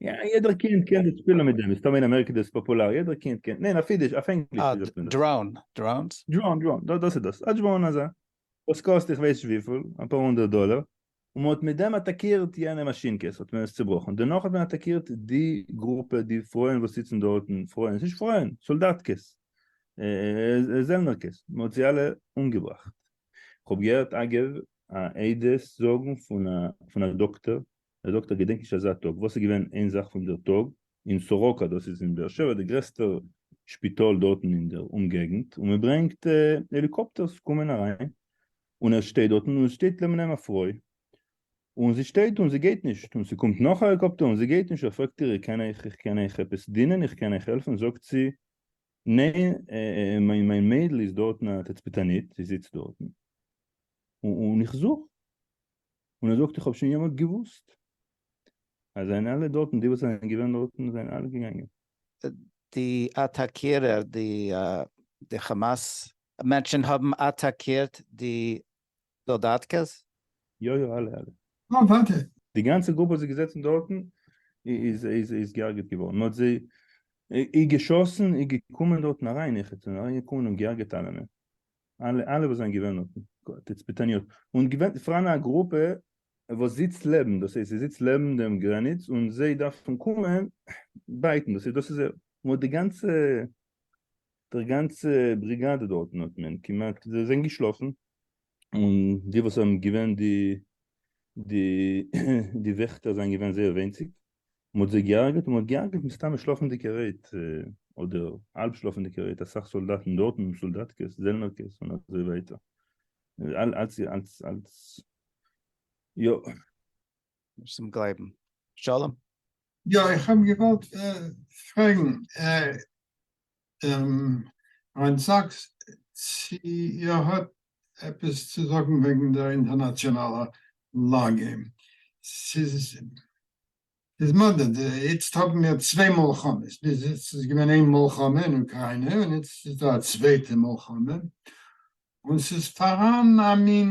יעדער קינד קען די שפילן מיט דעם, מסתמא אין אמעריקע איז דאס פאפולאר, יעדער קינד קען, ניין אויף אידיש, אויף ענגליש ווי זאגט מען דאס? דראון, דראונס? דראון דראון, דא דאס איז דאס, א דראון אזא, וואס קאסט איך ווייס נישט וויפיל, אפאר הונדערט דאלער, און מען האט מיט דעם אטאקירט יענע מאשינקעס, האט מען עס צובראכן, דערנאך האט מען אטאקירט די גרופע, די פרויען וואס זיצן דארטן, פרויען, ס'נישט פרויען, סאלדאטקעס, זעלנערקעס, מען האט זיי אלע אומגעבראכט, כ'האב געהערט אגב א עדות זאגן פון א דאקטער ער זאגט ער געדענקט נישט אזא טאג וואס איז געווען איין זאך פון דער טאג אין סורוקה דאס איז אין באר שבע די גרעסטע שפיטאל דארטן אין דער אומגעגנט און מען ברענגט העליקאפטערס קומען אריין און ער שטייט דארטן און עס שטייט לעבן אים א פרוי און זי שטייט און זי גייט נישט און ס'קומט נאך א העליקאפטער און זי גייט נישט ער פרעגט איר איך קען אייך איך קען אייך עפעס דינען איך קען אייך העלפן זאגט זי ניין מיין מיין מיידל איז דארטן א תצפיתנית זי זיצט דארטן און איך זוך און ער זאגט איך האב שוין יעמאלט געוואוסט אז זענען אלע דארטן די וואס זענען געווען דארטן זענען אלע געגאנגען. די אטאקירער די כאמאס מענטשן האבן אטאקירט די סאלדאטקעס? יא יא אלע אלע. אה ווארט. די גאנצע גרופע וואס איז געזעצן דארטן איז געהארגעט געווארן מען האט זיי איר געשאסן איר געקומען דארטן אריין איך האט אריין געקומען און געהארגעט אלעמען. אלע אלע וואס זענען געווען אויפן תצפיתניות, און געווען פאראן א גרופע וואס זיצט לעבן, דאס הייסט זי זיצט לעבן דעם גרעניץ און זיי דארפן קומען בייטן, דאס איז דאס איז מ'האט די גאנצע דער גאנצע בריגאדע דארטן האט מען כמעט זיי זענען געשלאפן, און די וואס האבן געווען די די וועכטער זענען געווען זייער וויינציג. מען האט זיי געהארגעט און מען האט געהארגעט מסתמא שלאפענדיגע רעיט אדער האלב שלאפענדיגע רעיט אסאך סאלדאטן דארטן און סאלדאטקעס זעלנערקעס און אזוי ווייטער אלץ אלץ אלץ יא נישט צום גלייבן שלום. יא איך האב געוואלט פרעגן. ריין סאקס צי ער האט עפעס צו זאגן וועגן דער אינטערנאציאנאלער לאגע. ס'איז מדה, איצט האבן מיר צוויי מלחמות, ביז איצט איז געווען איין מלחמה אין אוקריינע און איצט איז דא א צווייטע מלחמה, און ס'איז פאראן א מין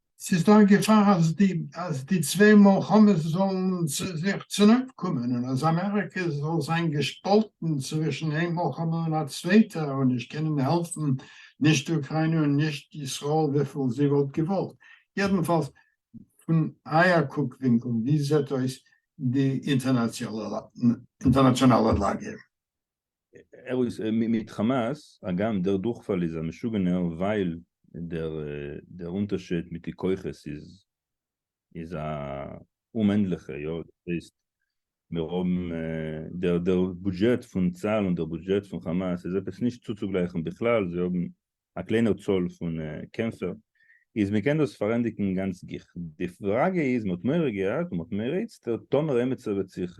ס'איז דא א געפאר אז די אז די צוויי מלחמות זאלן זיך צונויפקומען און אז אמעריקע זאל זיין געשפאלטן צווישן איין מלחמה און א צווייטע און נישט קענען העלפן נישט אוקריינע און נישט ישראל וויפיל זי וואלט געוואלט. יעדנפאלס פון אייער קוק ווינקל ווי זעט אויס די אינטערנאציאלע אינטערנאציאנאלע לאגע? ער איז מיט חאמאס, הגם דער דורכפאל איז א משוגענער ווייל דער אונטערשיד מיט די כוחות איז א אומענדליכע, יא דאס הייסט מיר האבן דער בודזשעט פון צהל און דער בודזשעט פון חאמאס איז עפעס נישט צוצוגלייכן בכלל, זיי האבן א קליינער צאל פון קעמפער, איז מען קען דאס פארענדיגן גאנץ גיך, די פראגע איז מען האט מורא געהאט און מען האט מורא איצטער טאמער עמיצער וועט זיך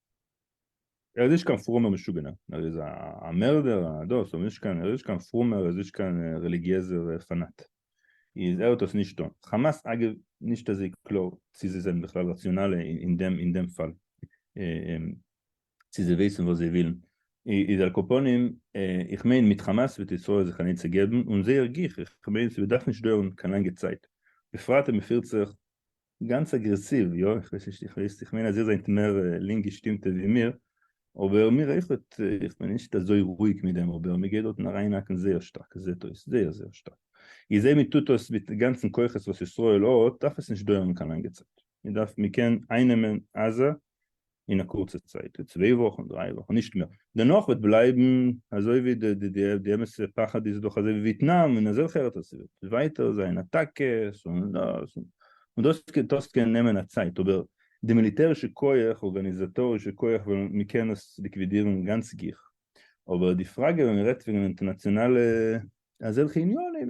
ער איז נישט קיין פרומער משוגענער, ער איז א מערדער א דאס, אבער נישט קיין, ער איז נישט קיין פרומער ער איז נישט קיין רעליגיעזער פאנאט, איז ער האט עס נישט טון. חאמאס אגב נישט אזוי קלאר צו זיי זענען בכלל ראציאנאלע אין דעם אין דעם פאל, צו זיי ווייסן וואס זיי ווילן, איז על כל פנים איך מיין מיט חאמאס וועט ישראל זיך אן עצה געבן און זייער גיך, איך מיין ס'וועט דאך נישט דויערן קיין לאנגע צייט, בפרט אז מ'פירט זיך גאנץ אגרעסיוו, יא, איך ווייס נישט, איך ווייס, איך מיין אז איר זענט מער לינק געשטימטע ווי מיר, אבער מיר אויכעט, איך בין נישט אזוי רואיג מיט דעם, אבער מען גייט דארטן אריינהאקן זייער שטארק, עס זעט אויס, זייער זייער שטארק. איך זעה מען טוט דאס מיט די גאנצע כוחות וואס ישראל האט, דארף עס נישט דויערן קיין לאנגע צייט. מען דארף, מען קען אייננעמען עזה אין א קורצע צייט, צוויי וואכן דריי וואכן נישט מער, דערנאך וועט בלייבן אזוי ווי די אמת'ע פחד איז דאך אזוי ווי וויטנאם און אזעלכע ארעטער ס'וועט ווייטער זיין אטאקעס און דאס און דאס און דאס קען נעמען א צייט אבער די מיליטערישע כח ארגאניזאטארישע כח וועלן מ'קען עס ליקווידירן גאנץ גיך אבער די פראגע ווען מ'רעדט וועגן אינטערנאציאנאלע אזעלכע עניינים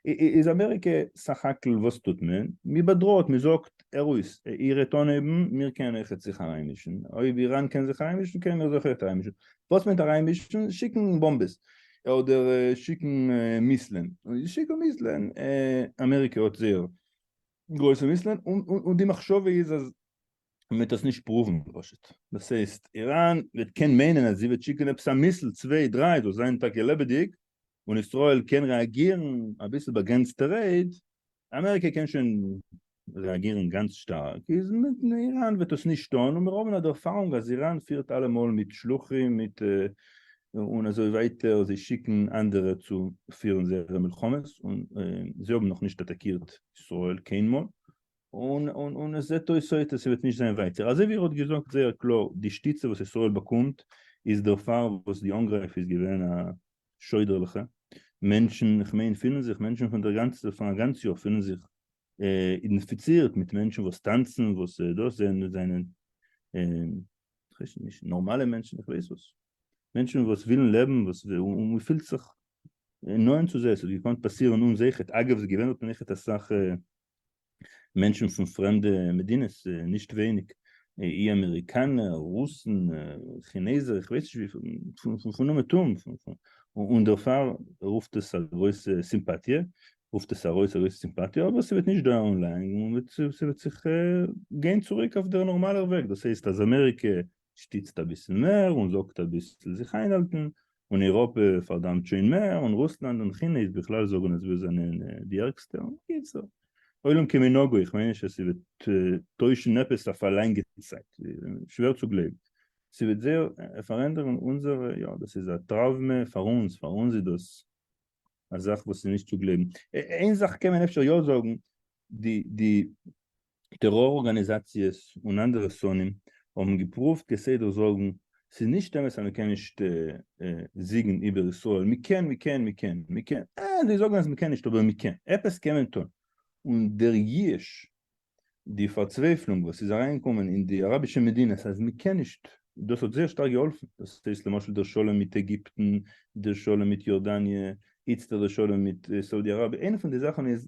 איז אמעריקע סך הכל וואס טוט מען? מען באדראעט מען זאגט ארויס איר העט אנהייבן מיר קען אייך זיך אריינמישן אויב איראן קען זיך אריינמישן קענען מיר זיך אויך אריינמישן וואס מיינט אריינמישן? שיקן באמבעס אדער שיקן מיסלען שיקן מיסלען אמעריקע האט זייער גרויסע מיסלען און די מחשבה איז אז מען וועט דאס נישט פרואוון פשוט, דאס הייסט איראן וועט קען מיינען אז זי וועט שיקען עפעס א מיסל צוויי דריי זאל זיין טאקע לעבעדיג און ישראל קען רעאגירן אביסל באגרענצטע רעיד, אמעריקע קען שוין רעאגירן גאנץ שטארק איז מיט איראן וועט דאס נישט טון און מיר האבן א ערפארונג אז איראן פירט אלעמאל מיט שלוחים מיט און אזוי ווייטער זיי שיקן אנדערע צו פירן זייערע מלחמות און זיי האבן נאכנישט אטאקירט ישראל קיינמאל און און און עס זעט אויס אויס אז ס'וועט נישט זיין ווייטער. אזוי ווי ער האט געזאגט זייער קלאר, די שטיצע וואס ישראל באקומט איז דערפאר וואס די אנגרייף איז געווען א שוידערליכע. מענטשן, כ'מיין פילן זיך מענטשן פון דער גאנצע פון א גאנץ יאר פילן זיך אינפיצירט מיט מענטשן וואס טאנצן וואס דאס זענען זענען כ'ווייס נישט נארמאלע מענטשן איך ווייס וואס. מענטשן וואס ווילן לעבן וואס און מ'פילט זיך נאענט צו זיי. ס'האט געקאנט פאסירן אן זיי ח ו. אגב, ס'איז געווען דארט און זיי ח ו אסאך מענטשן פון פרעמדע מדינות, נישט ווייניג אי אמעריקאנער, רוסן, כינעזער, איך ווייס נישט וויפיל, פון אומעטום, און דערפאר רופט עס א גרויסע סימפאטיע, רופט עס ארויס א גרויסע סימפאטיע, אבער ס'וועט נישט דויערן לאנג און ס'וועט זיך גיין צוריק אויף דער נארמאלער וועג, דאס הייסט אז אמעריקע שטיצט אביסל מער און זאגט אביסל זיך איינהאלטן, און איראפע פארדאמט שוין מער, און רוסלאנד און כינע איז בכלל זאגן אז מיר זענען די ערגסטע, און בקיצור עולם כמנהגו, איך מיין נישט אז ס'וועט טוישן עפעס אויף א לאנגע צייט, שווער צו גלייבן ס'וועט זייער פארענדערן אונזערע, יא דאס איז א טראוומע פאר אונז, פאר אונז איז דאס א זאך וואס איז נישט צו גלייבן, איין זאך קען מען אפשר יא זאגן, די טעראר ארגאניזאציעס און אנדערע שונאים האבן געפרואווט כסדר זאגן ס'איז נישט אמת אז מ'קען נישט זיגן איבער ישראל, מ'קען מ'קען מ'קען מ'קען, אה זיי זאגן אז מ'קען נישט אבער מ'קען, עפעס קען מען טון, און דער ייאוש די פארצווייפלונג וואס איז אריינגעקומען אין די אראבישע מדינות אז מ'קען נישט, דאס האט זייער שטארק געהאלפן, דאס הייסט למשל דער שלום מיט עגיפטן, דער שלום מיט יארדאניע, איצטער דער שלום מיט סאודי אראביע, איינע פון די זאכן איז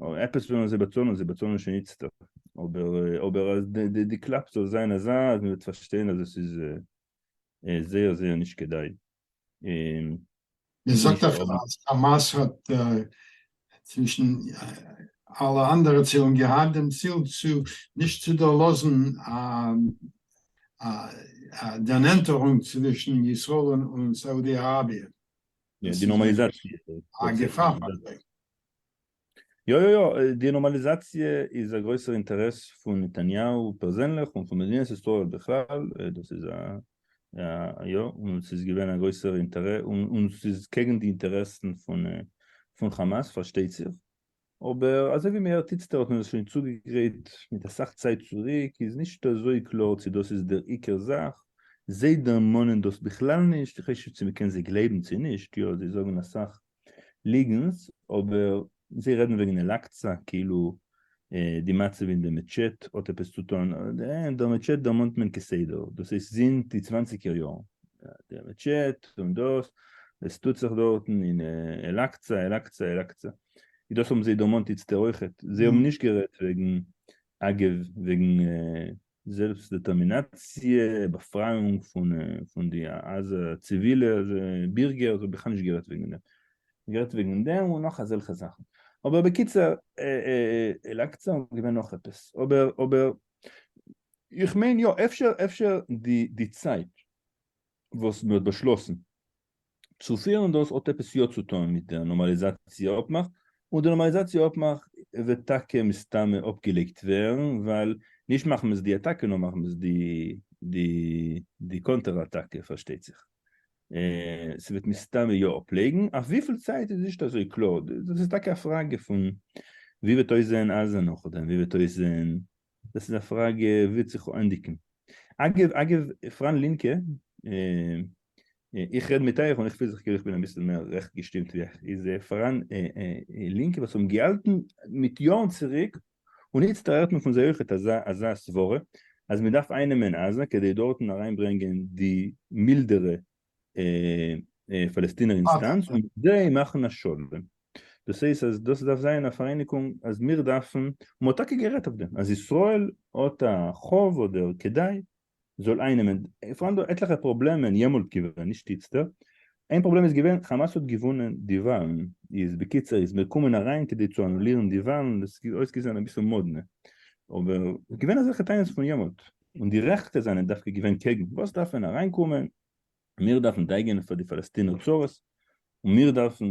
אויב עפעס ווילן זיי באצאלן, זיי באצאלן שוין איצטער, אבער אבער אז די קלאפ זאל זיין אזא אז מען וועט פארשטיין אז עס איז זייער זייער נישט כדאי. מען זאגט אפשר אז חאמאס האט צווישן אלע אנדערע צילן געהאט דעם ציל צו נישט צו דערלאזן א דערנענטערונג צווישן ישראל און סאודי אראביע. די נארמאליזאציע. א געפאר פאר זיי. יא יא יא, די נארמאליזאציע איז א גרויסער אינטערעס פון נתניהו פערזענליך און פון מדינת ישראל בכלל, דאס איז א יא, און ס'איז געווען א גרויסער אינטערעס, און ס'איז קעגן די אינטערעסן פון חאמאס פארשטייט זיך, אבער אזוי ווי מ'הערט איצטערט האט מען עס שוין צוגעגרייט מיט אסאך צייט צוריק, איז נישט אזוי קלאר צו דאס איז דער עיקר זאך, זיי דערמאנען דאס בכלל נישט, איך ווייס נישט צו מ'קען זיי גלייבן צו נישט, יא זיי זאגן אסאך ליגנס אבער זיי רעדן וועגן אל אקצא כאילו די מצב אין די מעטשעט האט עפעס צו טון, די מעטשעט דערמאנט מען כסדר דאס איז זינט די צוואנציגער יארן די מעטשעט און דאס וואס טוט זיך דארטן אין אל אקצא אל אקצא אל אקצא איז דאס האבן זיי דערמאנט איצטער אויכעט זיי האבן נישט גערעדט וועגן אגב וועגן זעלבסט דעטערמינאציע, באפרייאונג פון די עזה ציווילע בירגער, איך האב בכלל נישט גערעדט וועגן דעם, איך האב גערעדט וועגן דעם און נאך אזעלכע זאכן, אבער בקיצור, אל אקצא און געווען נאך עפעס, אבער אבער איך מיין יא, אפשר אפשר די צייט וואס מען האט באשלאסן צו פירן דאס האט עפעס יא צו טון מיט דער נארמאליזאציע אפמאך, און דער נארמאליזאציע אפמאך וועט טאקע מסתמא אפגעלייגט ווערן, ווייל נישט מחמת די אטאקע נאר מחמת די די די קאנטער אטאקע פארשטייט זיך, ס'וועט מסתמא יא אפלייגן, אויף וויפיל צייט איז נישט אזוי קלאר, דאס איז טאקע א פראגע פון ווי וועט אויסזען עזה נאכדעם, ווי וועט אויסזען, דאס איז א פראגע וועט זיך ענדיגן. אגב אגב פראן לינקע איך רעד מיט אייך און איך פיל זיך כאילו איך בין אביסל מער רעכט געשטימט ווי אייך, איז פאראן לינקע וואס האבן געהאלטן מיט יארן צוריק און איצט הערט מען פון זיי אויכעט אזא סברה אז מען דארף איינעמען עזה כדי דארטן אריינברענגען די מילדערע פאלעסטינער אינסטאנץ און מיט זיי מאכן א שלום. דאס הייסט אז דאס דארף זיין א פאראייניגונג אז מיר דארפן, מען האט טאקע גערעדט אויף דעם אז ישראל האט א חוב אדער כדאי זאל איינעמען, עס פארהאן דא עטליכע פראבלעמען יעמאלט געווען, נישט איצטער, איין פראבלעם איז געווען כאמאס האט געוואונען די וואלן, איז בקיצור איז מען געקומען אריין כדי צו אנולירן די וואלן, דאס איז אויסגעזען אביסל מאדנע, אבער איז געווען אזעלכע טענות פון יעמאלט, און די רעכטע זענען דווקא געווען קעגן, וואס דארף מען אריינקומען, מיר דארפן דאגה'ן פאר די פאלעסטינער צרות, און מיר דארפן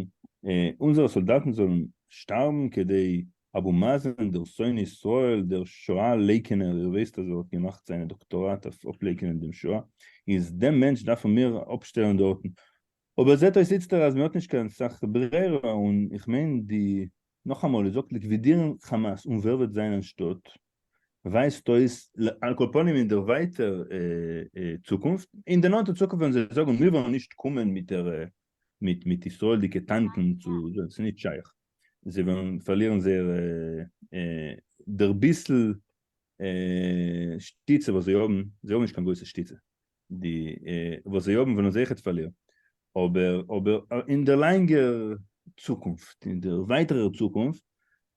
אונזערע סאלדאטן זאלן שטארבן כדי אבו מאזן דער שונא ישראל דער שואה לייקענער איר ווייסט אז ער האט געמאכט זיינע דאקטאראט אויף אפלייקענען דעם שואה איז דעם מענטש דארפן מיר אפשטעלן דארטן אבער זעט אויס איצטער אז מען האט נישט קיין סאך ברירה און איך מיין די נאכאמאל איר זאגט ליקווידירן חאמאס און ווער וועט זיין אנשטאט? ווייזט אויס על כל פנים אין דער ווייטער צוקונפט, אין די נאנטע צוקונפט וועלן זיי זאגן מיר וועלן נישט קומען מיט ישראלדיגע טאנקן צו דא, עס איז נישט שייך, זיי וועלן פארלירן זייער דער ביסל שטיצע וואס זיי האבן, זיי האבן נישט קיין גרויסע שטיצע, די וואס זיי האבן וועלן זיי עכט פארלירן, אבער אבער אין דער לאנגער צוקונפט, אין דער ווייטערער צוקונפט,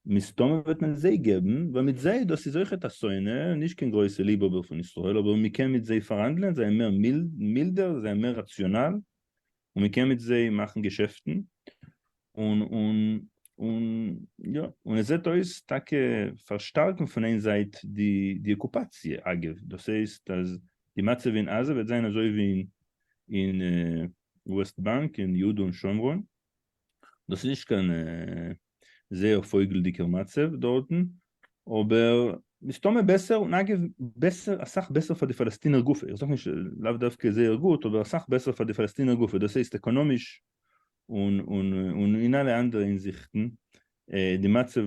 מסתמא וועט מען זיי געבן, ווייל מיט זיי, דאס איז אויכעט א שונא, נישט קיין גרויסע ליבהאבער פון ישראל, אבער מען קען מיט זיי פארהאנדלען, זיי זענען מער מילדער, זיי זענען מער ראציאנאל, און מען קען מיט זיי מאכן געשעפטן, און און און יא, און עס זעט אויס טאקע פארשטארקן פון איין זייט די די אקופאציע, אגב דאס הייסט אז די מצב אין עזה וועט זיין אזוי ווי אין וועסט באנק און יהודה און שומרון, דאס איז נישט קיין זייער פויגלדיגער מצב דארטן, אבער מסתמא בעסער, און אגב בעסער אסאך בעסער פאר די פאלעסטינער גופא, איך זאג נישט לאו דווקא זייער גוט אבער אסאך בעסער פאר די פאלעסטינער גופא, דאס הייסט עקאנאמיש און אין אלע אנדערע הינזיכטן, די מצב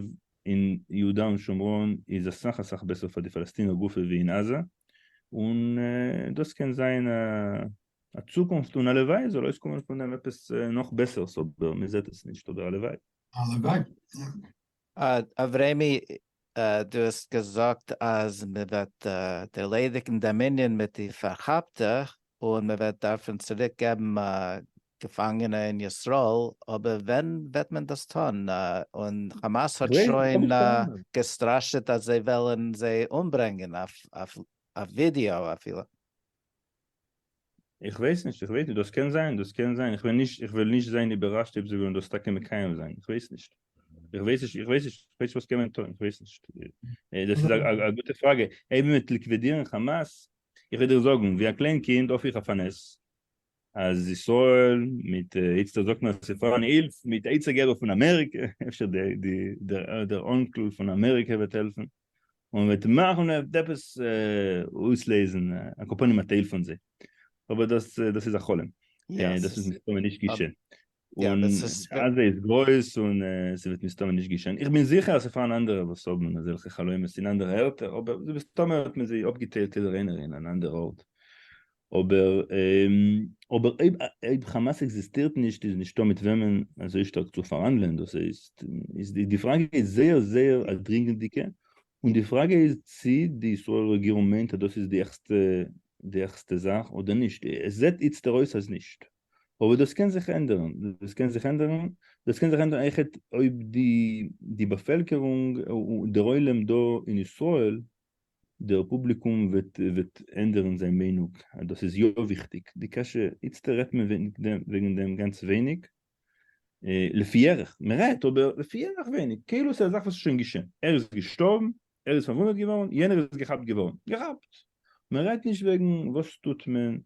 אין יהודה און שומרון איז אסאך אסאך בעסער פאר די פאלעסטינער גופא ווי אין עזה, און דאס קען זיין א א צוקונפט און הלוואי זאל אויסקומען פון דעם עפעס נאך בעסערס אבער מען זעט עס נישט אבער הלוואי. הלוואי יא. אברעמי, דו האסט געזאגט אז מען וועט ערלעדיגן דעם ענין מיט די פארכאפטע און מען וועט דארפן צוריק געבן געפאנגענע אין ישראל, אבער ווען וועט מען דאס טון? און חאמאס האט שוין געסטראשעט אז זיי וועלן זיי אומברענגען, אויף ווידעא אפילו. איך ווייס נישט, איך ווייס נישט, דאס קען זיין, דאס קען זיין, איך וועל נישט, איך וועל נישט זיין איבעראשט אויב זיי וועלן דאס טאקע מקיים זיין, איך ווייס נישט, איך ווייס נישט, איך ווייס נישט, איך ווייס נישט וואס קען מען טון, איך ווייס נישט, דאס איז א גוטע פראגע, אויב מען וועט ליקווידירן חאמאס, איך וועל דיר זאגן, ווי א קליין קינד האף איך אויף א נס, אז ישראל מיט, איצטער זאגט מען אז ס'איז פאראן הילף, מיט עצה געבער פון אמעריקע, אפשר דער אנקל פון אמעריקע וועט העלפן. און וועט מאכן ער וועט עפעס אויסלעזן א קאפאן אין א טייל פון זיי אבער דאס דאס איז א חלום דאס איז מסתמא נישט געשען און עזה איז גרויס און ס'וועט מסתמא נישט געשען איך בין זיכער אז ס'פארן אנדערע וואס האבן אזעלכע חלומות אין אנדערע ערטער אבער מסתמא האט מען זיי אפגעטיילט יעדער איינער אין אן אנדערע ארט אבער אבער אויב אויב חאמאס עקזיסטירט נישט איז נישטא מיט וועמען אזוי שטארק צו פארהאנדלען דאס הייסט איז די די פראגע איז זייער זייער א דרינגענדיגע און די פראגע איז צי די ישראל רעגירונג מיינט אז דאס איז די עכסטע די עכסטע זאך אדער נישט עס זעט איצטער אויס אז נישט אבער דאס קען זיך ענדערן דאס קען זיך ענדערן דאס קען זיך ענדערן עכט אויב די די באפעלקערונג און דער עולם דא אין ישראל דער פובליקום וועט ענדערן זיין מיינוג אז דאס איז יא וויכטיג, די קשיא איצטער רעדט מען וועגן דעם גאנץ ווייניג, לפי ערך, מען רעדט אבער לפי ערך ווייניג, כאילו ס'איז א זאך וואס איז שוין געשען, ער איז געשטארבן, ער איז פארוואונדעט געווארן, יענער איז געכאפט געווארן, געכאפט, מען רעדט נישט וועגן וואס טוט מען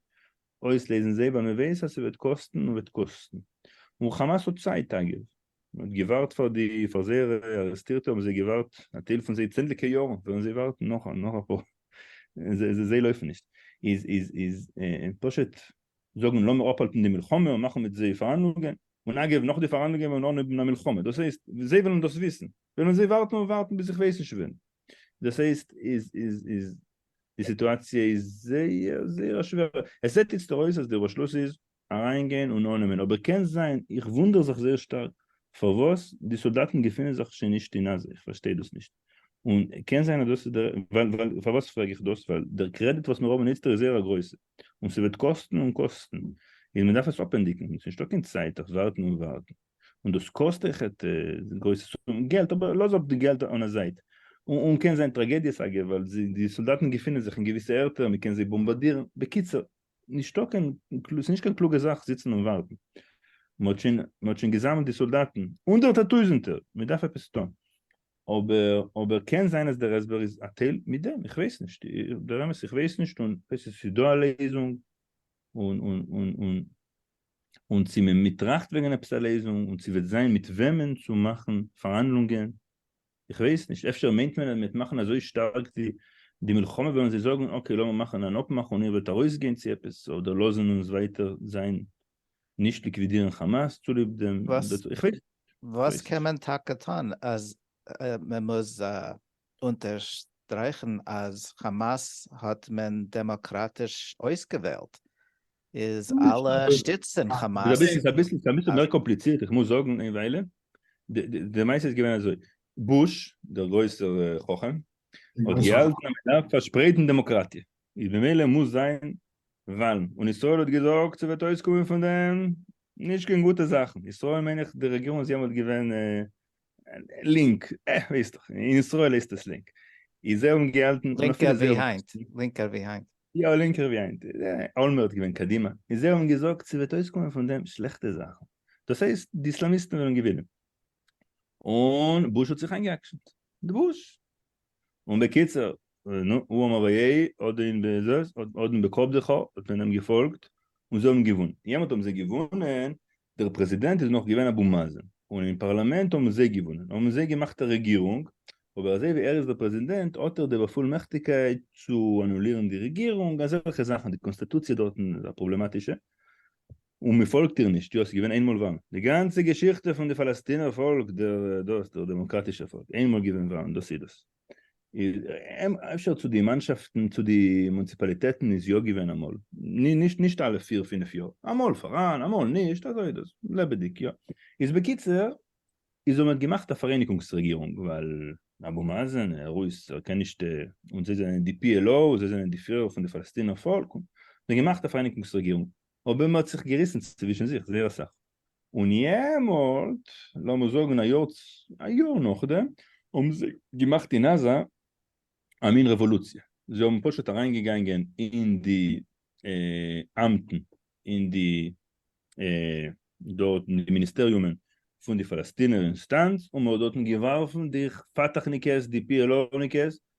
אויסלעזן זיי בה מ'ווייס אז ס'וועט קאסטן און וועט קאסטן. און כאמאס האט צייט אגב. מ'האט געווארט פאר די פאר זייערע ארעסטירטע האבן זיי געווארט א טייל פון זיי צענדליגע יארן וועלן זיי ווארטן נאך נאך אפאר זיי לויפן נישט איז איז איז פשוט זאגן לאמיר אפהאלטן די מלחמה און מאכן מיט זיי פארהאנדלונגען און אגב נאך די פארהאנדלונגען וועלן אן האבן א מלחמה דאס הייסט זיי וועלן דאס וויסן וועלן זיי ווארטן און ווארטן ביז איך ווייס נישט ווען דאס הייסט איז איז איז די סיטואציע איז זייער זייער א שווערע, עס זעט איצט אויס אז די באשלוס איז אריינגיין און אננעמען, אבער קען זיין, איך וואונדער זיך זייער שטארק פארוואס די סאלדאטן געפינען זיך שוין נישט אין עזה, איך פארשטיי דאס נישט, און קען זיין אז דאס איז דער, ווייל, פארוואס פרעג איך דאס, ווייל דער קרעדיט וואס מיר האבן איצט איז זייער א גרויסע, און ס'וועט קאסטן און קאסטן, איז מ'דארף עס אפענדיגן, ס'איז נישטא קיין צייט אויף ווארטן און ווארטן. און דאס קאסט אויך א גרויסע סכום געלט, אבער לאז אפ די געלט אן א זייט, און קען זיין טראגעדיעס אגב, ווייל די סאלדאטן געפינען זיך אין געוויסע ערטער, מען קען זיי באמבאדירן, בקיצור, נישטא קיין, ס'איז נישט קיין קלוגע זאך זיצן און ווארטן, מען האט שוין, מען האט שוין געזאמלט די סאלדאטן, הונדערטער טויזנטער, מען דארף עפעס טון, אבער, אבער קען זיין אז דער הסבר איז א טייל מיט דעם, איך ווייס נישט, דער אמת איך ווייס נישט, און כ'ווייס נישט צו ס'איז דא א לעזונג, און, און, און, און. און צו מען מיט טראכט וועגען עפעס א לעזונג און צו וועט זיין מיט וועמען צו מאכען פארהאנדלונגען איך ווייס נישט אפשר מיינט מען אז מען וועט מאכען אזוי שטארק די די מלחמה וועלען זיי זאגען אקעי לאמיר מאכען אן אפמאך און איר וועט ארויס גיין צו עפעס אדער לאזען אונז ווייטער זיין נישט ליקווידירען חאמאס צוליב דעם איך ווייס וואס קען מען טאקע טון אז מען מוז אונטערשטרייכען אז חאמאס האט מען דעמאקראטיש אויסגעוועלט איז אלע שטיצט דעם חאמאס. רבי ס'איז אביסל ס'איז אביסל מער קאמפליצירט איך מוז זאגן איין וויילע די מעשה איז געווען אזוי בוש דער גרויסער חכם האט געהאלטן אז מ'דארף פארשפרייטן דעמאקראטיע איז במילא מוז זיין וואלן און ישראל האט געזאגט ס'וועט אויסקומען פון דעם נישט קיין גוטע זאכן ישראל מיין איך די רעגירונג איז יעמאלט געווען לינק, אה, ווייסט דאך, אין ישראל הייסט דאס לינק. איז ער אנגעהאלטן... לינקער ווי היינט, לינקער ווי היינט. יא, לינקער ווי היינט. אולמערט געווען קדימה. איז ער האט געזאגט, ס'וועט אויסקומען פון דעם שלעכטע זאכן. דאס הייסט, די איסלאמיסטן וועלן געווינען. און בוש האט זיך איינגע'אקשנ'ט. די בוש. און בקיצור, נו, הוא אמר ויהי, אדער אין בעזה, אדער אין בקב דכא, האט מען אים געפאלגט, און זיי האבן געוואונען. יעמאלט האבן זיי געוואונען, דער פרעזידענט איז נאך געווען אבו מאזן, און אין פארלאמענט האבן זיי געוואונען, האבן זיי געמאכט א רעגירונג, אבער אזוי ווי ער איז דער פרעזידענט האט ער די באפולמעכטיגקייט צו אנולירן די רעגירונג, אזעלכע זאכן, די קאנסטעטוציע דארטן איז א פראבלעמאטישע, און מען פאלגט איר נישט, יא, ס'איז געווען איינמאל וואלן, די גאנצע געשיכטע פון די פאלעסטינער פאלק, דער דאס, דער דעמאקראטישער פאלק, איינמאל געווען וואלן, דאס איז דאס. אפשר צו די מאנשאפטן צו די מונציפאליטעטן איז יא געווען אמאל, נישט אלע פיר פינף יאר, אמאל פאראן אמאל נישט, אזוי איז דאס, לעבעדיג יא. איז בקיצור, איז האבן מיר געמאכט א פאראייניגונגס רעגירונג, ווייל אבו מאזן ער איז ער קען נישט, און זיי זענען די פי על או, זיי זענען די פירער פון די פאלעסטינער פאלק, און מיר האבן געמאכט א פאראייניגונגס רעגירונג, אבער מען האט זיך געריסן צווישן זיך זייער אסאך, און יעמאלט, לאמיר זאגן א יאר א יאר נאכדעם, האבן זיי געמאכט אין עזה א מין רעוואלוציע, זיי האבן פשוט אריינגעגאנגען אין די אמטן, אין די דארט אין די מיניסטעריומען פון די פאלעסטינער אינסטאנץ, און מען האט דארטן געווארפן די פאטאחניקעס, די פי על או'ניקעס,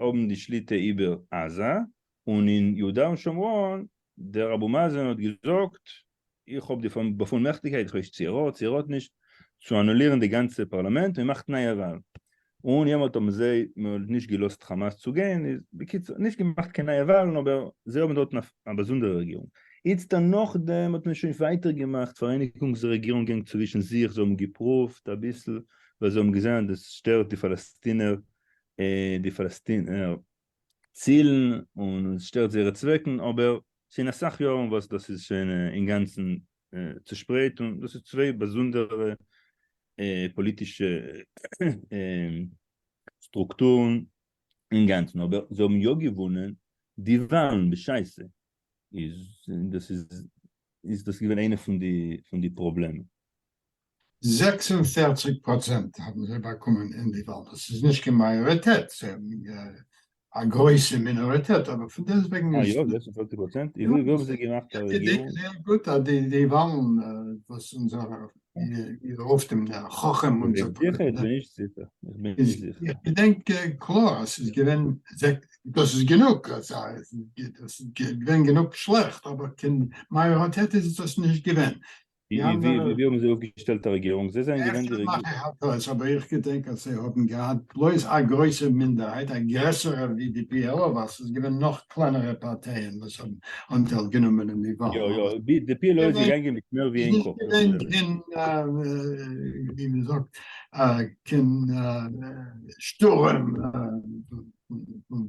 האבן די שליטה איבער עזה, און אין יהודה און שומרון דער אבו מאזן האט געזאגט איך האב די באפולמעכטיגקייט איך ווייס צו ער האט צו ער האט נישט צו אנולירן די גאנצע פארלאמענט און מאכט נייע וואלן און יעמאלט האבן זיי נישט געלאזט חאמאס צו גיין איז בקיצור נישט געמאכט קיין נייע וואלן אבער זיי האבן דארטן א באזונדערע רעגירונג איצטער נאכדעם האט מען שוין ווייטער געמאכט פאראייניגונגס רעגירונגען צווישן זיך זיי האבן געפרואווט אביסל ווייל זיי האבן געזען אז עס שטערט די פאלעסטינער די פאלעסטינער צילן און עס שטערט זייערע צוועקן אבער שוין אסאך יארן וואס דאס איז שוין אינגאנצן צושפרייט און דאס איז צוויי באזונדערע פאליטישע סטרוקטורן אינגאנצן אבער זיי האבן יא געוואונען די וואלן בשעת סע איז דאס איז דאס געווען איינע פון די פראבלעמען. זעקס און פֿערציק פראצענט האבן זיי באקומען אין די וואלן, דאס איז נישט קיין מאיאריטעט, זיי האבן א גרויסע מינאריטעט, אבער פון דעסט וועגן איז עס נישט זייער גוט אז די די וואלן וואס אונזער איר רופט אים דער חכם און זיך דורך איך בין נישט זיכער, איך בין נישט זיכער, איך געדענק קלאר אז ס'איז געווען דאס איז גענוג אז ס'איז געווען גענוג שלעכט, אבער קיין מאיאריטעט איז דאס נישט געווען, ווי האבן זיי אויפגעשטעלט א רעגירונג? זיי זענען געווען די רעגירונג? אפשר מאך איך א טעות, אבער איך געדענק אז זיי האבן געהאט בלויז א גרויסע מינדערהייט, א גרעסערע ווי די PLO, ווייל ס'איז געווען נאך קלענערע פארטייען וואס האבן אנטייל גענומען אין די וואלן. יא יא, די PLO איז געגאנגען מיט מער ווי איין קאפ. איז נישט געווען קיין, ווי מען זאגט, קיין שטורעם פון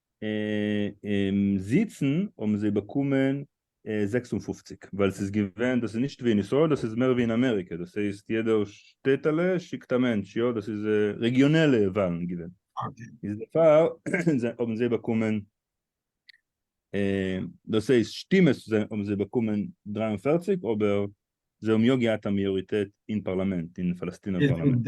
און זיצן האבן זיי באקומען זעקס און פֿופֿציק ווייל ס'איז געווען דאס איז נישט ווי אין ישראל דאס איז מער ווי אין אמעריקע דאס הייסט יעדע שטעטעלע שיקט א מענטש יא דאס איז רעגיאנעלע וואלן געווען איז דערפאר האבן זיי באקומען דאס הייסט שטימעס האבן זיי באקומען דרײַ און פֿערציק אבער זיי האבן יא געהאט א מאיאריטעט אין פארלאמענט אין פאלעסטינער פארלאמענט.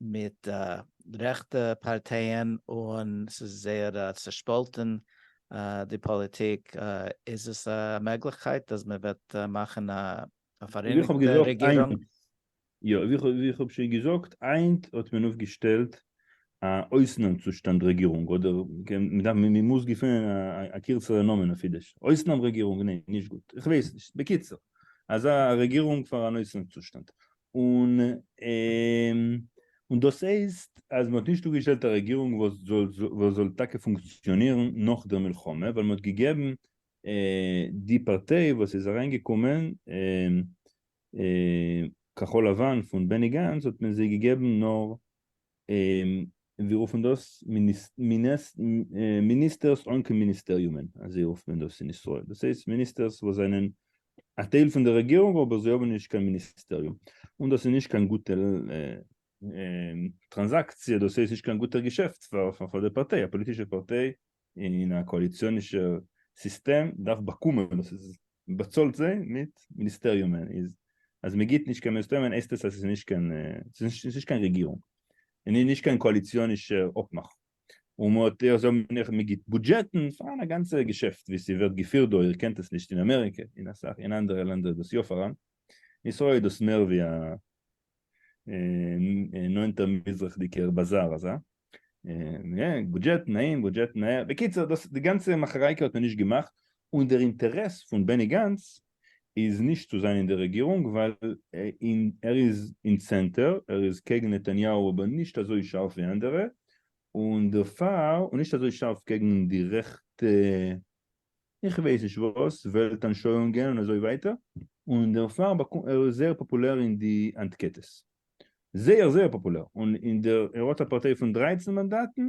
מיט רעכטע פארטייען און ס'איז זייער צעשפאלטען די פאליטיק, איז עס א מעגליכקייט אז מען וועט מאכן א פאראייניגטע רעגירונג? יא, ווי איך האב שוין געזאגט, היינט האט מען אויפגעשטעלט א אויסנאם צושטאנד רעגירונג, אדער מען מוז געפינען א קירצערע נאמען אויף אידיש, אויסנאם רעגירונג, ניין נישט גוט, איך ווייס נישט, בקיצור, אזא רעגירונג פאר אן אויסנאם צושטאנד, און דאס הייסט אז מען האט נישט אפגעשטעלט א רעגירונג וואס זאל טאקע פונקציאנירן נאך דער מלחמה, ווייל מען האט געגעבן די פארטיי וואס איז אריינגעקומען, כחול לבן פון בעני גאנץ, האט מען זיי געגעבן נאר און זיי רופן דאס מיניסטערס אן קיין מיניסטעריומען, אזוי רופט מען דאס אין ישראל, דאס הייסט מיניסטערס וואס זענען א טייל פון די רעגירונג אבער זיי האבן נישט קיין מיניסטעריום, און דאס איז נישט קיין גוטע טראנזאקציע, דאס הייסט נישט קיין גוטע געשעפט פאר די פארטיי, א פאליטישע פארטיי אין א קאליציאנישע סיסטעם דארף באקומען דאס איז באצאלט זיי מיט מיניסטעריומען איז אז מען גיבט נישט קיין מיניסטעריומען הייסט עס אז ס'איז נישט קיין ס'איז נישט קיין רעגירונג און איז נישט קיין קאליציאנישע אפמאך און מען האט זיי האבן נעכטן מען גיבט בודזשעטן פאר א גאנצע געשעפט ווי ס'ווערט געפירט דא איר קענט עס נישט אין אמעריקע אין אסאך אין אנדערע לענדער איז דאס יא פאראן אין ישראל איז דאס מער ווי א נאנטער מזרח'דיגער באזאר אזא, בודזשעט נעים בודזשעט נאה, בקיצור דאס די גאנצע מאכערייקע האט מען נישט געמאכט, און דער אינטערעס פון בעני גאנץ איז נישט צו זיין אין די רעגירונג ווייל ער איז אין צענטער, ער איז קעגן נתניהו אבער נישט אזוי שארף ווי אנדערע, און דערפאר, און נישט אזוי שארף קעגן די רעכטע איך ווייס נישט וואס, וועלט אנשויאונגען און אזוי ווייטער, און דערפאר באקומט ער זייער פאפולער אין די אנטקעטעס, זייער זייער פאפולער, און אין די ער האט א פארטיי פון דרײַצן מאנדאטן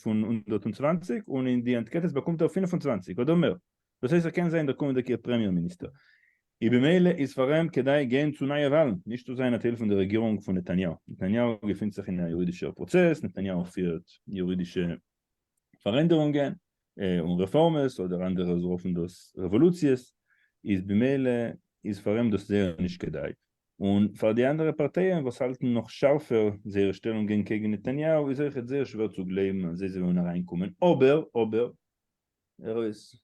פון הונדערט און צוואַנציק און אין די אנטקעטעס באקומט ער פֿינף און צוואַנציק אדער מער, דאס הייסט ער קען זיין דער קומענדיגער פרעמיער מיניסטער, און במילא איז פאר אים כדאי גיין צו נייע וואלן, נישט צו זיין א טייל פון די רעגירונג פון נתניהו, נתניהו געפינט זיך אין א יורידישער פראצעס, נתניהו פירט יורידישע פארענדערונגען און רעפארמעס אדער אנדערע רופן דאס רעוואלוציעס איז במילא איז פאר אים דאס זייער נישט כדאי און פאר די אנדערע פארטייען וואס האלטן נאך שארפער זייער שטעלונגען קעגן נתניהו איז אויכעט זייער שווער צו גלייבן אז זיי זאלן אריינקומען אבער אבער ארויס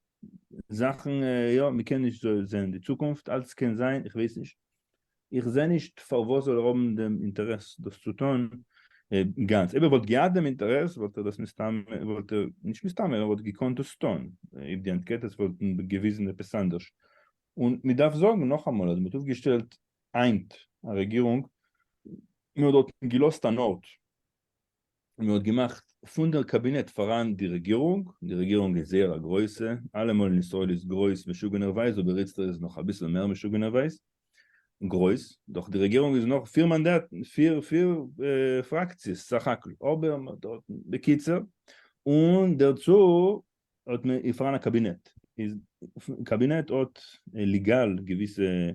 זאכן יא מ'קען נישט זאל זעהן די צוקונפט אלץ קען זיין איך ווייס נישט איך זעה נישט פארוואס זאל ער האבן דעם אינטערעס דאס צו טון גאנץ אויב ער וואלט געהאט דעם אינטערעס וואלט ער דאס מסתם וואלט ער נישט מסתם ער וואלט געקאנט דאס טון אויב די אנקעטעס וואלטן געוויזן עפעס אנדערש און מ'דארף זאגן נאכאמאל אז מ'האט אויפגעשטעלט היינט א רעגירונג מ'האט דארטן געלאזט אן ארט און מען האט געמאכט פון דער קאבינעט פאראן די רעגירונג, די רעגירונג איז זייער א גרויסע, אלעמאל אין ישראל איז גרויס משוגענערווייז אבער איצטער איז עס נאך אביסל מער משוגענערווייז גרויס, דאך די רעגירונג איז נאר פיר מאנדאטן, פיר פיר פראקציעס סך הכל, אבער מען האט דארטן, בקיצור, און דערצו האט מען איז פאראן א קאבינעט, איז קאבינעט האט ליגאל געוויסע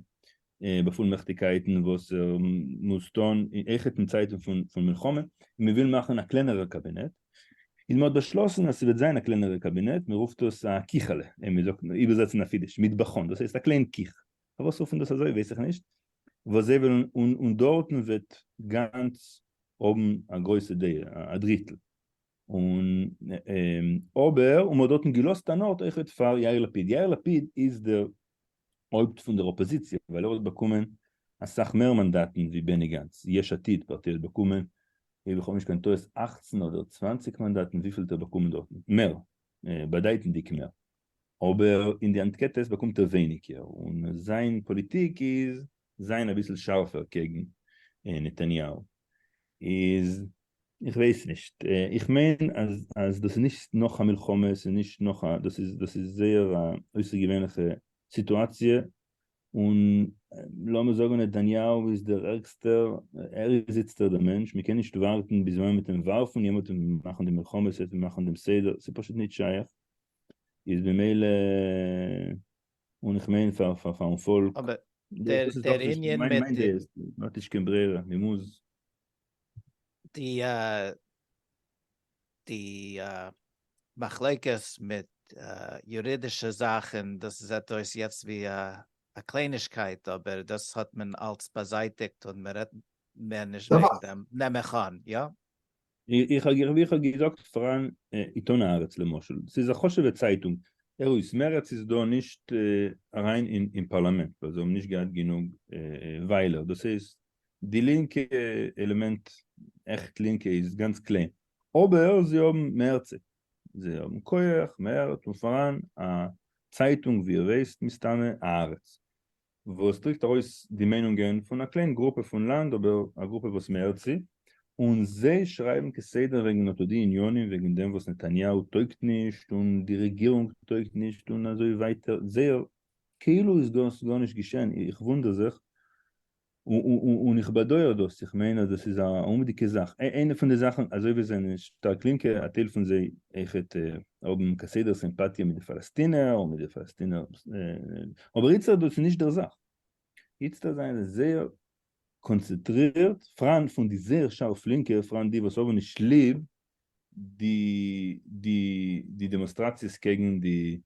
באפולמעכטיגקייטן וואס ער מוז טון עכ פ אין צייטן פון מלחמה, און מען וויל מאכן א קלענערע קאבינעט, איז מען האט באשלאסן אז ס'וועט זיין א קלענערע קאבינעט, מען רופט עס א קיכעלע, און מען זאגט איבערזעצן אויף אידיש מטבחון, דאס הייסט א קליין קיך, פארוואס רופט מען דאס אזוי ווייס איך נישט, וואס זיי וועלן און דארטן וועט גאנץ האבן א גרויסע דעה, א דריטל. און אבער און מ'האט דארטן געלאזט אן ארט אויכעט פאר יאיר לפיד, יאיר לפיד איז דער הויפט פון דער אפאזיציע ווייל ער האט באקומען אסאך מער מאנדאטן ווי בעני גאנץ, יש עתיד פארטיי האט באקומען אויב איך האב נישט קיין טעות אַכצן אדער צוואַנציק מאנדאטן וויפיל האט ער באקומען דארטן? מער, באדייטנדיג מער, אבער אין די אנקעטעס באקומט ער ווייניגער און זיין פאליטיק איז זיין אביסל שארפער קעגן נתניהו איז איך ווייס נישט איך מיין אז דאס איז נישט נאך א מלחמה עס איז נישט נאך א דאס איז דאס איז זייער א אויסערגעווענליכע סיטואציע און לאמיר זאגן נתניהו איז דער ערגסטער ער איז איצטער דער מענטש מען קען נישט ווארטן ביז ווען מען וועט אים ווארפן יעמאלט וועט מען מאכן די מלחמה עס וועט מען מאכן דעם סדר ס'איז פשוט נישט שייך איז במילא און איך מיין פאר פארן פאלק. אבער דער ענין מיט די. מ'האט נישט קיין ברירה, מ'מוז. די די מחלוקת מיט יורידישע זאכן, דאס זעט אויס יעצט ווי א קליינישקייט, אבער דאס האט מען אלץ באזייטיגט און מ'רעדט מער נישט וועגן דעם, נעם איך אן, יא? איך האב ווי איך האב געזאגט פארן עיתון הארץ למשל, ס'איז א חשוב'ע צייטונג, ערויס, מרצ איז דא נישט אריין אין פארלאמענט ווייל זיי האבן נישט געהאט גענוג וויילער, דאס הייסט די לינקע עלעמענט, עכט לינקע, איז גאנץ קליין, אבער זיי האבן מרצ, זיי האבן כח, מרץ, און פארן א צייטונג ווי איר ווייסט מסתמא, הארץ, וואס דריקט ארויס די מיינונגען פון א קליין גרופע פון לאנד אבער א גרופע וואס מען הערט צו, און זיי שרייבן כסדר וועגן אטא די עניינים וועגן דעם וואס נתניהו טויגט נישט און די רעגירונג טויגט נישט און אזוי ווייטער זייער כאילו איז דאס גארנישט געשען איך וואונדער זיך און איך באדויער דאס איך מיין אז דאס איז א אומוויכטיגע זאך איינע פון די זאכן אזוי ווי עס זענען שטארק לינקע א טייל פון זיי אויכעט האבן כסדר סימפאטיע מיט די פאלעסטינער און מיט די פאלעסטינער אבער איצטערט דאס איז נישט דער זאך, איצטערט זענען זיי זייער קאנצעטרירט פריינט פון די זייער שארף לינקע פריינט די וואס האבן נישט ליב די די די דעמאנסטראציעס קעגן די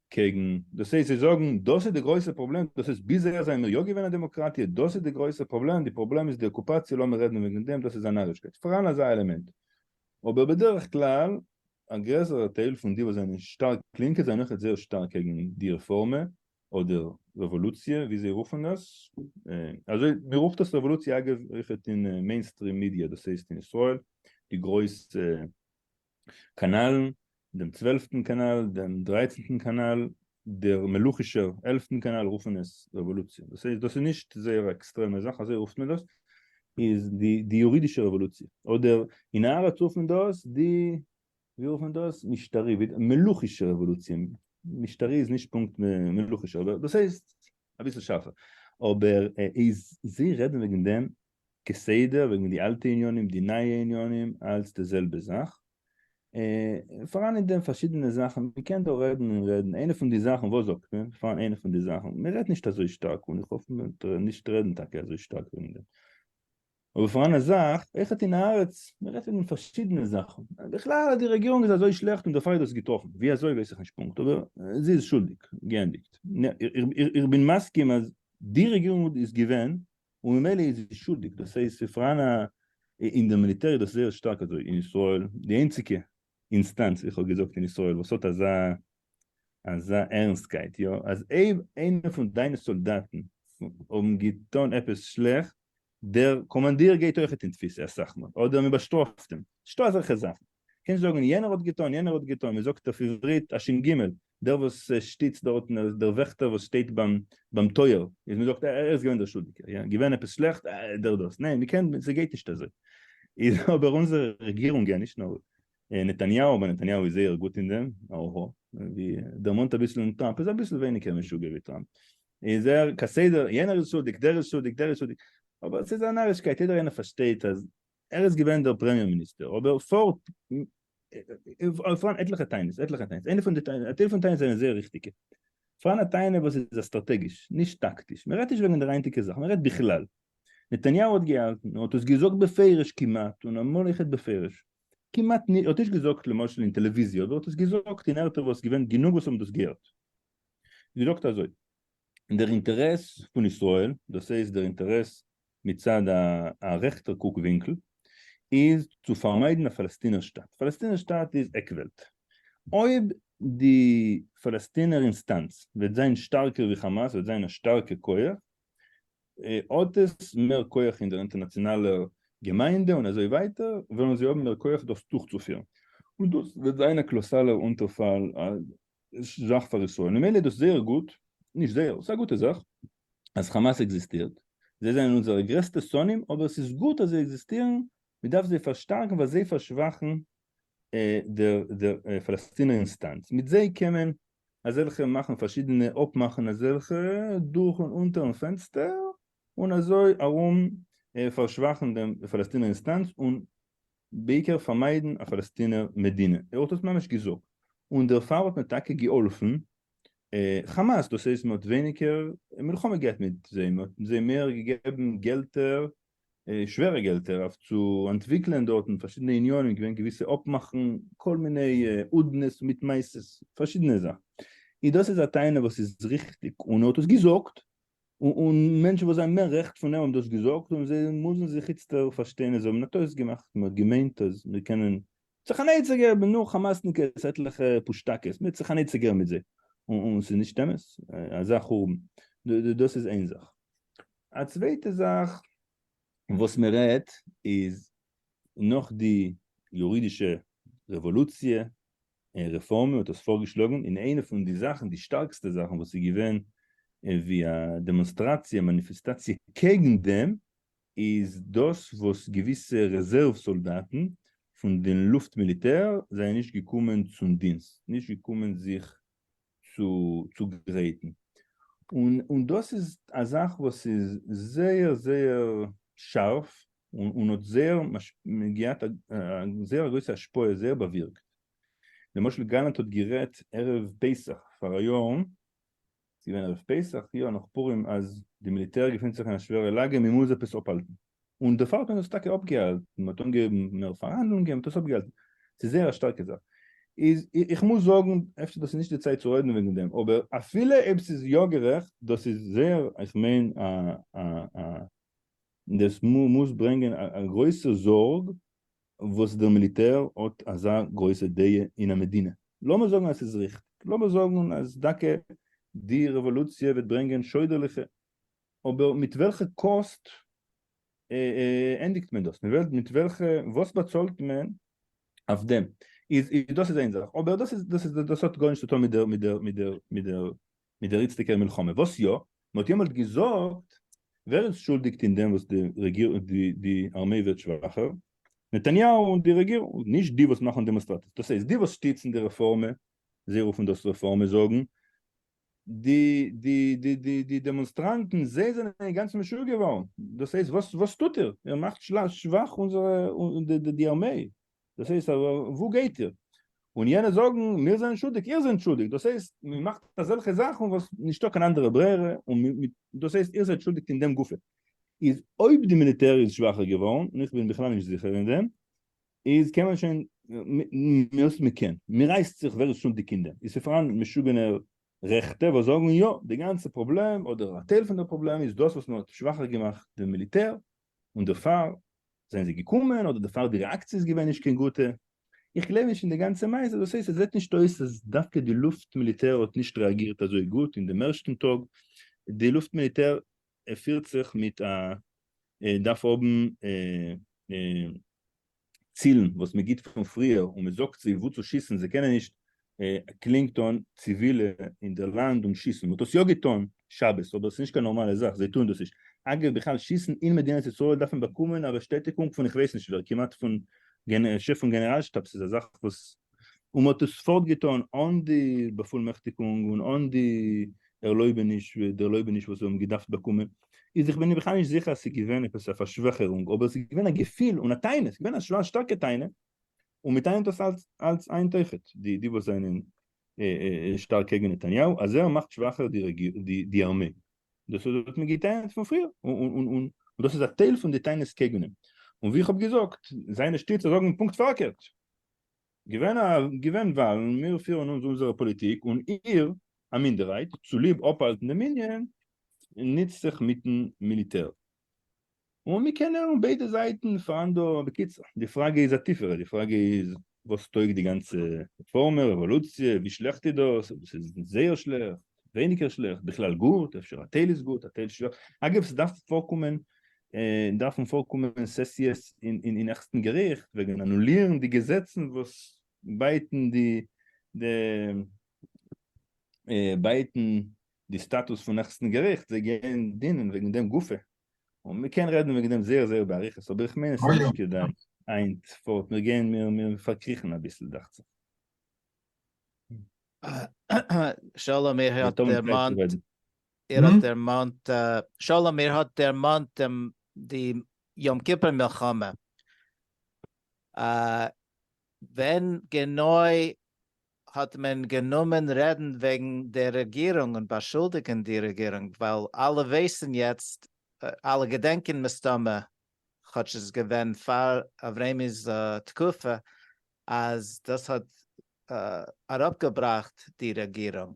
קעגן דאס הייסט זיי זאגן דאס איז די גרויסע פראבלעם דאס הייסט ביז אהער זענען מיר יא געווען א דעמאקראטיע דאס איז די גרויסע פראבלעם די פראבלעם איז די אקופאציע לאמיר רעדן וועגן דעם דאס איז א נארישקייט פאראן אזא עלעמענט אבער בדרך כלל א גרעסערע טייל פון די וואס זענען שטארק לינקע זענען אויכעט זייער שטארק קעגן די רעפארמע אדער רעוואלוציע ווי זיי רופן עס אזוי מען רופט עס רעוואלוציע אגב אויכעט אין מעינסטרים מידיע דאס הייסט אין ישראל די גרויסע קאנאלן דעם צוועלפטן קאנאל, דעם דרייצנטן קאנאל, דער מלוכישער עלפטן קאנאל רופן עס רעוואלוציע, דאס הייסט דאס איז נישט זייער א עקסטרעמע זאך אזוי רופט מען דאס, איז די די יורידישע רעוואלוציע, אדער אין הארץ רופט מען דאס די ווי רופט מען דאס משטרי מלוכישע רעוואלוציע, משטרי איז נישט פונקט מלוכישער אבער דאס הייסט אביסל שארפער, אבער איז זיי רעדן וועגן דעם כסדר וועגן די אלטע עניינים די נייע עניינים אלץ די זעלבע זאך. אה, פאראן אין דעם פארשידענע זאכן, מ'קען דא רעדן און רעדן, איינע פון די זאכן, וואס זאגט מען? ס'פאראן איינע פון די זאכן, מ'רעדט נישט אזוי שטארק, און איך האף מ'וועט נישט רעדן טאקע אזוי שטארק וועגן דעם, אבער פאראן א זאך, אויכעט אין הארץ, מ'רעדט וועגן פארשידענע זאכן, בכלל די רעגירונג איז אזוי שלעכט און דערפאר איז דאס געטראפן, ווי אזוי ווייס איך נישט פונקט, אבער זי איז שולדיג, געענדיגט. איך בין מסכים אז די רעגירונג איז געווען און ממילא איז זי שולדיג, דאס הייסט ס'איז פאראן א, אין די מיליטער איז דאס זייער שטארק אזוי אין ישראל, די איינציגע אינסטאנץ ווי איך האב געזאגט אין ישראל וואס האט אזא אזא ערנסטקייט יא, אז אויב איינער פון דיינע סאלדאטן האבן געטון עפעס שלעכט, דער קאמאנדיר גייט אויכעט אין תפיסה אסאך מאל, אדער מען באשטראפט אים, ס'נישטא אזעלכע זאכן, קענסט זאגן יענער האט געטון יענער האט געטון, מען זאגט אויף עברית השין גימעל, דער וואס שטיצט דארטן איז דער וועכטער וואס שטייט ביים ביים טויער איז מען זאגט ער איז געווען דער שולדיגער יא געווען עפעס שלעכט אה דער דאס ניין מ'קען ס'גייט נישט אזוי איז אבער אונזערע רעגירונגען נישט נאר נתניהו אבער נתניהו איז זייער גוט אין דעם אהה ווי דערמאנט אביסל און טראמפ איז אביסל ווייניגער משוגע ווי טראמפ איז ער כסדר יענער איז שולדיג דער איז שולדיג דער איז שולדיג אבער ס'איז א נארישקייט יעדער איינער פארשטייט אז ער איז געווען דער פרעמיער מיניסטער, אבער פארט, פארהאן עטליכע טענות, עטליכע טענות, איינע פון די טענות, א טייל פון טענות זענען זייער ריכטיגע, פארהאן א טענה וואס איז א סטראטעגיש, נישט טאקטיש, מען רעדט נישט וועגן דער היינטיגע זאך, מען רעדט בכלל, נתניהו האט געהאלטן, און האט עס געזאגט בפירוש כמעט, און אמאל איך רעד בפירוש, כמעט נישט, ער האט נישט געזאגט למשל אין טעלעוויזיע, אבער ער האט עס געזאגט אין ערטער וואס געווען גענוג וואס האבן דאס געהערט, געזאגט אזוי, דער אינטערעס פון ישראל, דאס הייסט דער אינטערעס מצד א רעכטער קוק ווינקל, איז צו פארמיידן א פאלעסטינער שטאַט. פאלעסטינער שטאַט איז עק וועלט. אויב די פאלעסטינער אינסטאנץ וועט זיין שטארקער ווי חאמאס וועט זיין א שטארקע כח, האט עס מער כח אין דער אינטערנאציאנאלער געמיינדע און אזוי ווייטער, וועלן זיי האבן מער כח דאס דורכצופירן. און דאס וועט זיין א קלאסאלער אונטערפאל זאך פאר ישראל. ממילא איז דאס זייער גוט, נישט זייער, ס'איז א גוטע זאך, אז חאמאס עקזיסטירט, זיי זענען אונזערע גרעסטע שונאים אבער עס איז גוט אז זיי עקזיסטירן, מען דארף זיי פארשטארקן ווייל זיי פארשוואכן דער פאלעסטינער אינסטאנץ, מיט זיי קען מען אזעלכע מאכן פארשידענע אפמאכן אזעלכע דורך און אונטערן פענסטער און אזוי ארום פארשוואכן דעם פאלעסטינער אינסטאנץ און בעיקר פארמיידן א פאלעסטינער מדינה, ער האט עס ממש געזאגט, און דערפאר האט מען טאקע געהאלפן חאמאס דאס הייסט מען האט ווייניגער מלחמה געהאט מיט זיי מען האט זיי מער געגעבן געלטער שווערע געלטער אויף צו אנטוויקלען דארטן פארשידענע יוניאנען געווען געוויסע אפמאכן כל מיני הודנה'ס מיט מעשה'ס פארשידענע זאכן און דאס איז א טענה וואס איז ריכטיג און ער האט עס געזאגט און מענטשן וואס זענען מער רעכט פון אים האבן דאס געזאגט און זיי מוזן זיך איצטער פארשטיין אז זיי האבן א טעות געמאכט מען האט געמיינט אז מיר קענען זיך אנייצעגער מיט נאך חמאסניקעס עטליכע פושטאקעס מיט זיך אנייצעגערן מיט זיי און ס'איז נישט אמת אזא חורבן דאס איז איין זאך א צווייטע זאך וואס מען רעדט איז נאך די יורידישע רעוואלוציע און רעפארמע האט דאס פארגעשלאגן און איינע פון די זאכן די שטארקסטע זאכן וואס איז געווען ווי א דעמאנסטראציע מאניפיסטאציע קעגן דעם איז דאס וואס געוויסע רעזערוו סאלדאטן פון די לופט מיליטער זענען נישט געקומען צום דינסט, נישט געקומען זיך צו צוגרייטן, און דאס איז א זאך וואס איז זייער זייער שארף און האט זייער געהאט א זייער א גרויסע השפעה, זייער באווירקט. למשל גלנט האט גערעדט ערב פסח פאראיאר, ס'איז געווען ערב פסח, יאר נאך פורים, אז די מיליטער געפינט זיך אין א שווערע לאגע, מ'מוז עפעס אפהאלטן. און די פאלק האט עס טאקע אפגעהאלטן, מ'האט אנגעהויבן מער פארהאנדלונגען, מ'האט עס אפגעהאלטן. ס'איז זייער א שטארקע זאך. איז, איך מוז זאגן, אפשר דאס איז נישט די צייט צו רעדן וועגן דעם, אבער אפילו אויב ס'איז יא גערעכט, דאס איז זייער, איך מיין, א, א, א, דאס מוז ברענגען א גרויסע זארג וואס דער מיליטער האט אזא גרויסע דעה אין א מדינה, לאמיר זאגן אז ס'איז ריכטיג, לאמיר זאגן אז דוקא די רעוואלוציע וועט ברענגען שוידערליכע, אבער מיט וועלכע קאסט ענדיגט מען דאס, מיט וועלכע, וואס באצאלט מען אויף דעם, איז דאס איז איין זאך, אבער דאס איז, דאס האט גארנישט צו טון מיט דער, מיט דער, מיט דער, מיט דער איצטיקער מלחמה, וואָס יאָ? מען האָט יעמאָלט געזאָגט, ווער איז שולדיק אין דעם, וואָס די אַרמײ ווערט שוואַכער? נתניהו און די רעגירונג, נישט די, וואָס מאַכן דעמאָנסטראַציעס. דאָס הייסט, די, וואָס שטיצן די רעפאָרמע, זיי רופן דאָס רעפאָרמע, זאָגן די, די, די, די, די דעמאָנסטראַנטן, זיי זענען אינגאַנצן משוגע געוואָרן. דאָס הייסט, וואָס, וואָס טוט איר? איר מאַכט שוואַך אונדזערע, די אַרמײ. דאס הייסט אז וואו גייט איר? און יענע זאגן מיר זענען שולדיג, איר זענט שולדיג, דאס הייסט מען מאכט אזעלכע זאכן וואס נישטא קיין אנדערע ברירה, און דאס הייסט איר זענט שולדיג אין דעם גופא. איז אויב די מיליטער איז שוואכער געווארן, און איך בין בכלל נישט זיכער אין דעם, איז קען מען שוין, מ'האט מען קען, מ'רייסט זיך ווער איז שולדיג אין דעם, איז ס'פאראן משוגענע רעכטע וואס זאגן יא, די גאנצע פראבלעם אדער א טייל פון דער פראבלעם איז דאס וואס מ'האט שוואכער געמאכט דעם מיליטער, און דערפאר זענען זיי געקומען אדער דערפאר די רעאקציע איז געווען נישט קיין גוטע, איך גלייב נישט אין די גאנצע מעשה, דאס הייסט עס זעט נישט אויס אז דווקא די לופט מיליטער האט נישט רעאגירט אזוי גוט אין דעם ערשטן טאג, די לופט מיליטער פירט זיך מיט א דארף האבן צילן וואס מען גיבט פון פריער און מען זאגט זיי וואו צו שיסן זיי קענען נישט קלינגטאן ציווילע אין די לאנד און שיסן מען האט עס יא געטון שבת אבער עס איז נישט קיין נארמאלע זאך זיי טוען דאס נישט אגב בכלל שיסן אין מדינת ישראל דארף מען באקומען א באשטעטיגונג פון איך ווייס נישט ווער כמעט פון שטעף פון גענעראל שטאבס איז א זאך וואס און מען האט עס פארט געטאן אן די באפולמעכטיגונג און אן די ערלויבעניש דערלויבעניש וואס זיי האבן געדארפט באקומען, איז איך בין בכלל נישט זיכער אז ס'איז געווען עפעס א פארשוועכערונג אבער ס'איז געווען א געפיל און א טענה, ס'איז געווען א שווער שטארקע טענה, און מען טענה'ט דאס אלץ אלץ היינט אויכעט די די וואס זענען שטארק קעגן נתניהו אז ער מאכט שוואכער די ארמעי, דאס האט מען געטענה'ט פון פריער און דאס איז א טייל פון די טענות קעגן אים, און ווי איך האב געזאגט זיינע שטיצער זאגן פונקט פארקערט. געווען וואלן, מיר פירן אונז אונזערע פאליטיק און איר, א מינדערהייט, צוליב אפהאלטן די מנין, ניצט זיך מיטן מיליטער. און מיר קענען און ביידע זייטן פארהאן דא. בקיצור, די פראגע איז א טיפערע, די פראגע איז וואס טויג די גאנצע רעפארמע, רעוואלוציע, ווי שלעכט איז דאס? דאס איז זייער שלעכט. ווייניגער שלעכט, בכלל גוט, אפשר א טייל איז גוט א טייל שלעכט, אגב ס'דארף פארקומען דארפן פארקומען סעסיעס אין העכסטן געריכט וועגן אנולירן די געזעצן וואס בייטן די בייטן די סטאטוס פון העכסטן געריכט, זיי גייען דינען וועגן דעם גופא, און מ'קען רעדן וועגן דעם זייער זייער באריכות, אבער איך מיין עס איז נישט כדאי היינט פארט, מיר גייען מיר פארקריכן אביסל דאכט זיך. שלום איר האט דערמאנט איר האט דערמאנט שלום איר האט דערמאנט דעם די יום כיפור מלחמה ווען גענוי האט מען גענומען רעדן וועגן די רעגירונג און באשולדיגן די רעגירונג ווייל אלע ווייסן יעצט אלע געדענקען מסתמא כאטש עס איז געווען פאר אברעמי'ס תקופה אז דאס האט אראפגעבראכט די רעגירונג.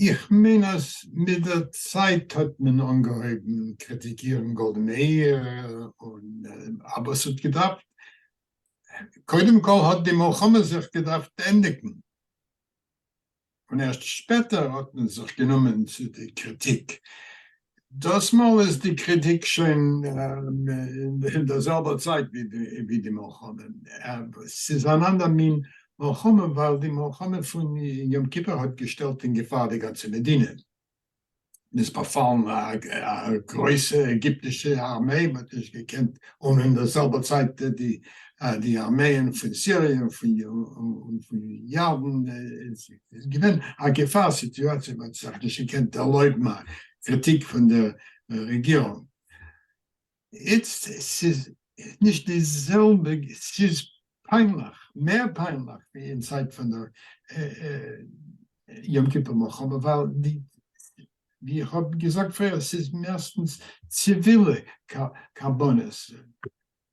איך מיין אז מיט דער צייט האט מען אנגעהויבן קריטיקירן גאלדע מאיר, אבער עס האט געדארפט, קודם כל האט די מלחמה זיך געדארפט ענדיגן, און ערשט שפעטער האט מען זיך גענומען צו די קריטיק. דאס מאל איז די קריטיק שוין אין דער זעלבער צייט ווי די מלחמה, ס'איז אן אנדער מין מלחמה ווייל די מלחמה פון יום כיפור האט געשטעלט אין געפאר די גאנצע מדינה. און איז באפאלן א גרויסע עגיפטישע ארמיי, מען האט נישט געקענט, און אין דער זעלבער צייט די ארמייען פון סיריע און פון ירדן, איז געווען א געפאר סיטואציע, מען האט זיך נישט געקענט ערלויבן א קריטיק פון דער רעגירונג. איצט ס'איז נישט די זעלבע, ס'איז פיינליך, מער פיינליך ווי אין צייט פון דער יום כיפור מלחמה, ווייל די, ווי איך האב געזאגט פריער, ס'איז מערסטנס ציווילע קרבנות,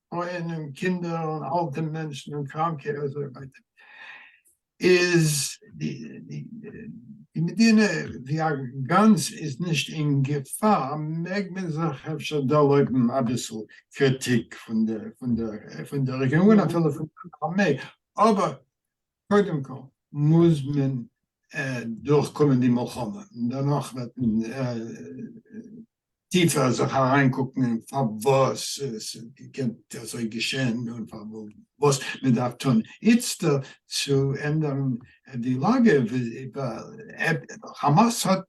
פרויען און קינדער און אלטע מענטשן און קראנקע און אזוי ווייטער. איז די מדינה ווי א גאנץ איז נישט אין געפאר, מעג מען זיך אפשר ערלויבן אביסל קריטיק פון די רעגירונג און אפילו פון די ארמעי, אבער קודם כל מוז מען דורכקומען די מלחמה און דערנאך וועט מען טיפער זיך אריינקוקן אין פארוואס עס איז געקענט אזוי געשען און פארוואס מען דארף טון איצטער צו ענדערן די לאגע, כאמאס האט,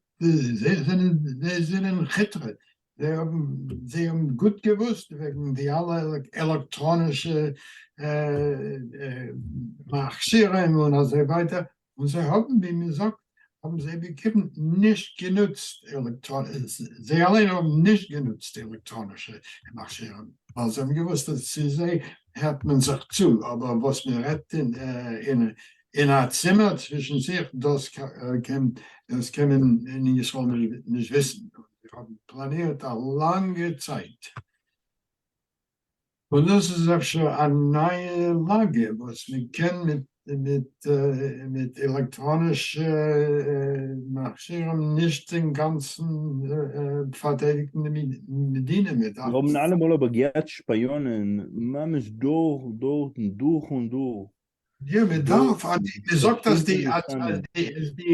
זיי זענען כיטרע, זיי האבן גוט געוואוסט וועגן די אלע עלעקטראנישע מכשירים און אזוי ווייטער, און זיי האבן ווי מען זאגט האבן זיי בעיקרון נישט גענוצט זיי אליין האבן נישט גענוצט עלעקטראנישע מכשירים ווייל זיי האבן געוואוסט אז צו זיי הערט מען זיך צו אבער וואס מען רעדט אין אין א צימער צווישן זיך דאס קען דאס קען מען אין ישראל נישט וויסן און זיי האבן פלאנירט א לאנגע צייט. און דאס איז אפשר א נייע לאגע וואס מען קען מיט עלעקטראנישע מכשירים נישט אינגאנצן פארטיידיגן די מדינה מיט אלעס. זיי האבן אלעמאל אבער געהאט שפיאנען ממש דורך דורך דורך און דורך. יא מען דארף, מען זאגט אז די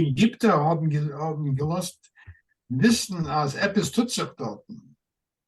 עגיפטער האבן געלאזט וויסן אז עפעס טוט זיך דארטן.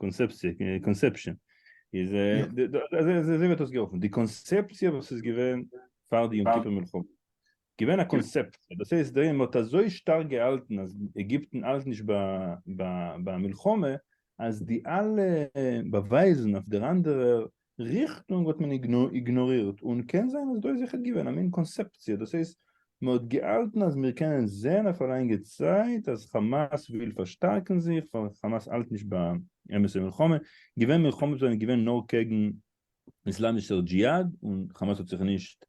קאנסעפציע, קאנסעפשען, איז אזוי וועט דאס געהאלפן, די קאנסעפציע וואס איז געווען פאר די יום כיפור מלחמה, געווען א קאנסעפציע, דאס הייסט דער עולם האט אזוי שטארק געהאלטן אז עגיפטן האלט נישט ביי א מלחמה, אז די אלע באווייזן אויף דער אנדערער ריכטונג האט מען איגנארירט און קען זיין אז דא איז זיכער געווען א מין קאנסעפציע דאס הייסט מען האט געהאלטן אז מיר קענען זעהן אויף א לאנגע צייט אז חאמאס וויל פארשטארקן זיך ווייל חאמאס האלט נישט ביי אמת'ע מלחמה געווען מלחמות זענען געווען נאר קעגן איסלאמישער דזשיהאד און חאמאס האט זיך נישט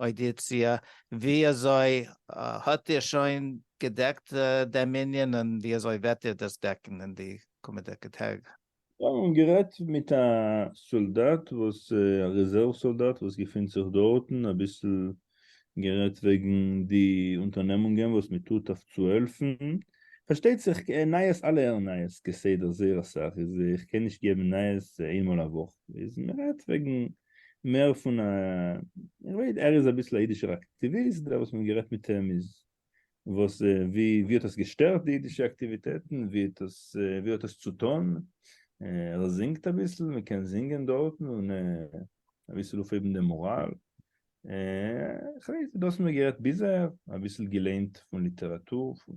אודיציע, ווי אזוי האט איר שוין געדעקט דעם ענין און ווי אזוי וועט איר דאס דעקן אין די קומענדיגע טעג? זיי האבן גערעדט מיט א סאלדאט וואס א רעזערוו סאלדאט וואס געפינט זיך דארטן אביסל גערעדט וועגן די אונטערנעמונגען וואס מען טוט אויף צו העלפן, פארשטייט זיך כהער נייעס אלע הערן נייעס כסדר זייער אסאך איז איך קען נישט געבן נייעס איינמאל א וואך איז מען רעדט וועגן מער פון א, איך ווייס ער איז אביסל א אידישער אקטיוויסט, דער וואס מ'האט גערעדט מיט אים איז וואס ווי ווי האט עס געשטערט די אידישע אקטיוויטעטן, ווי האט עס ווי האט עס צוטון, ער זינגט אביסל, מ'קען זינגען דארטן און אביסל אויפהייבן דעם מאראל, איך ווייס דאס האט מען גערעדט ביז אהער, אביסל געליינט פון ליטעראטור פון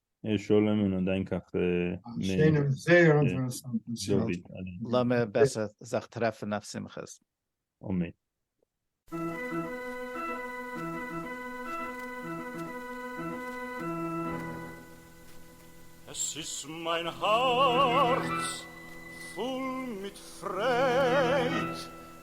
שלום און אנדענק אויף לאמיר בעסער זיך טרעפן אויף שמחות. אמן. עס איז מיין הארץ פול מיט פרייד.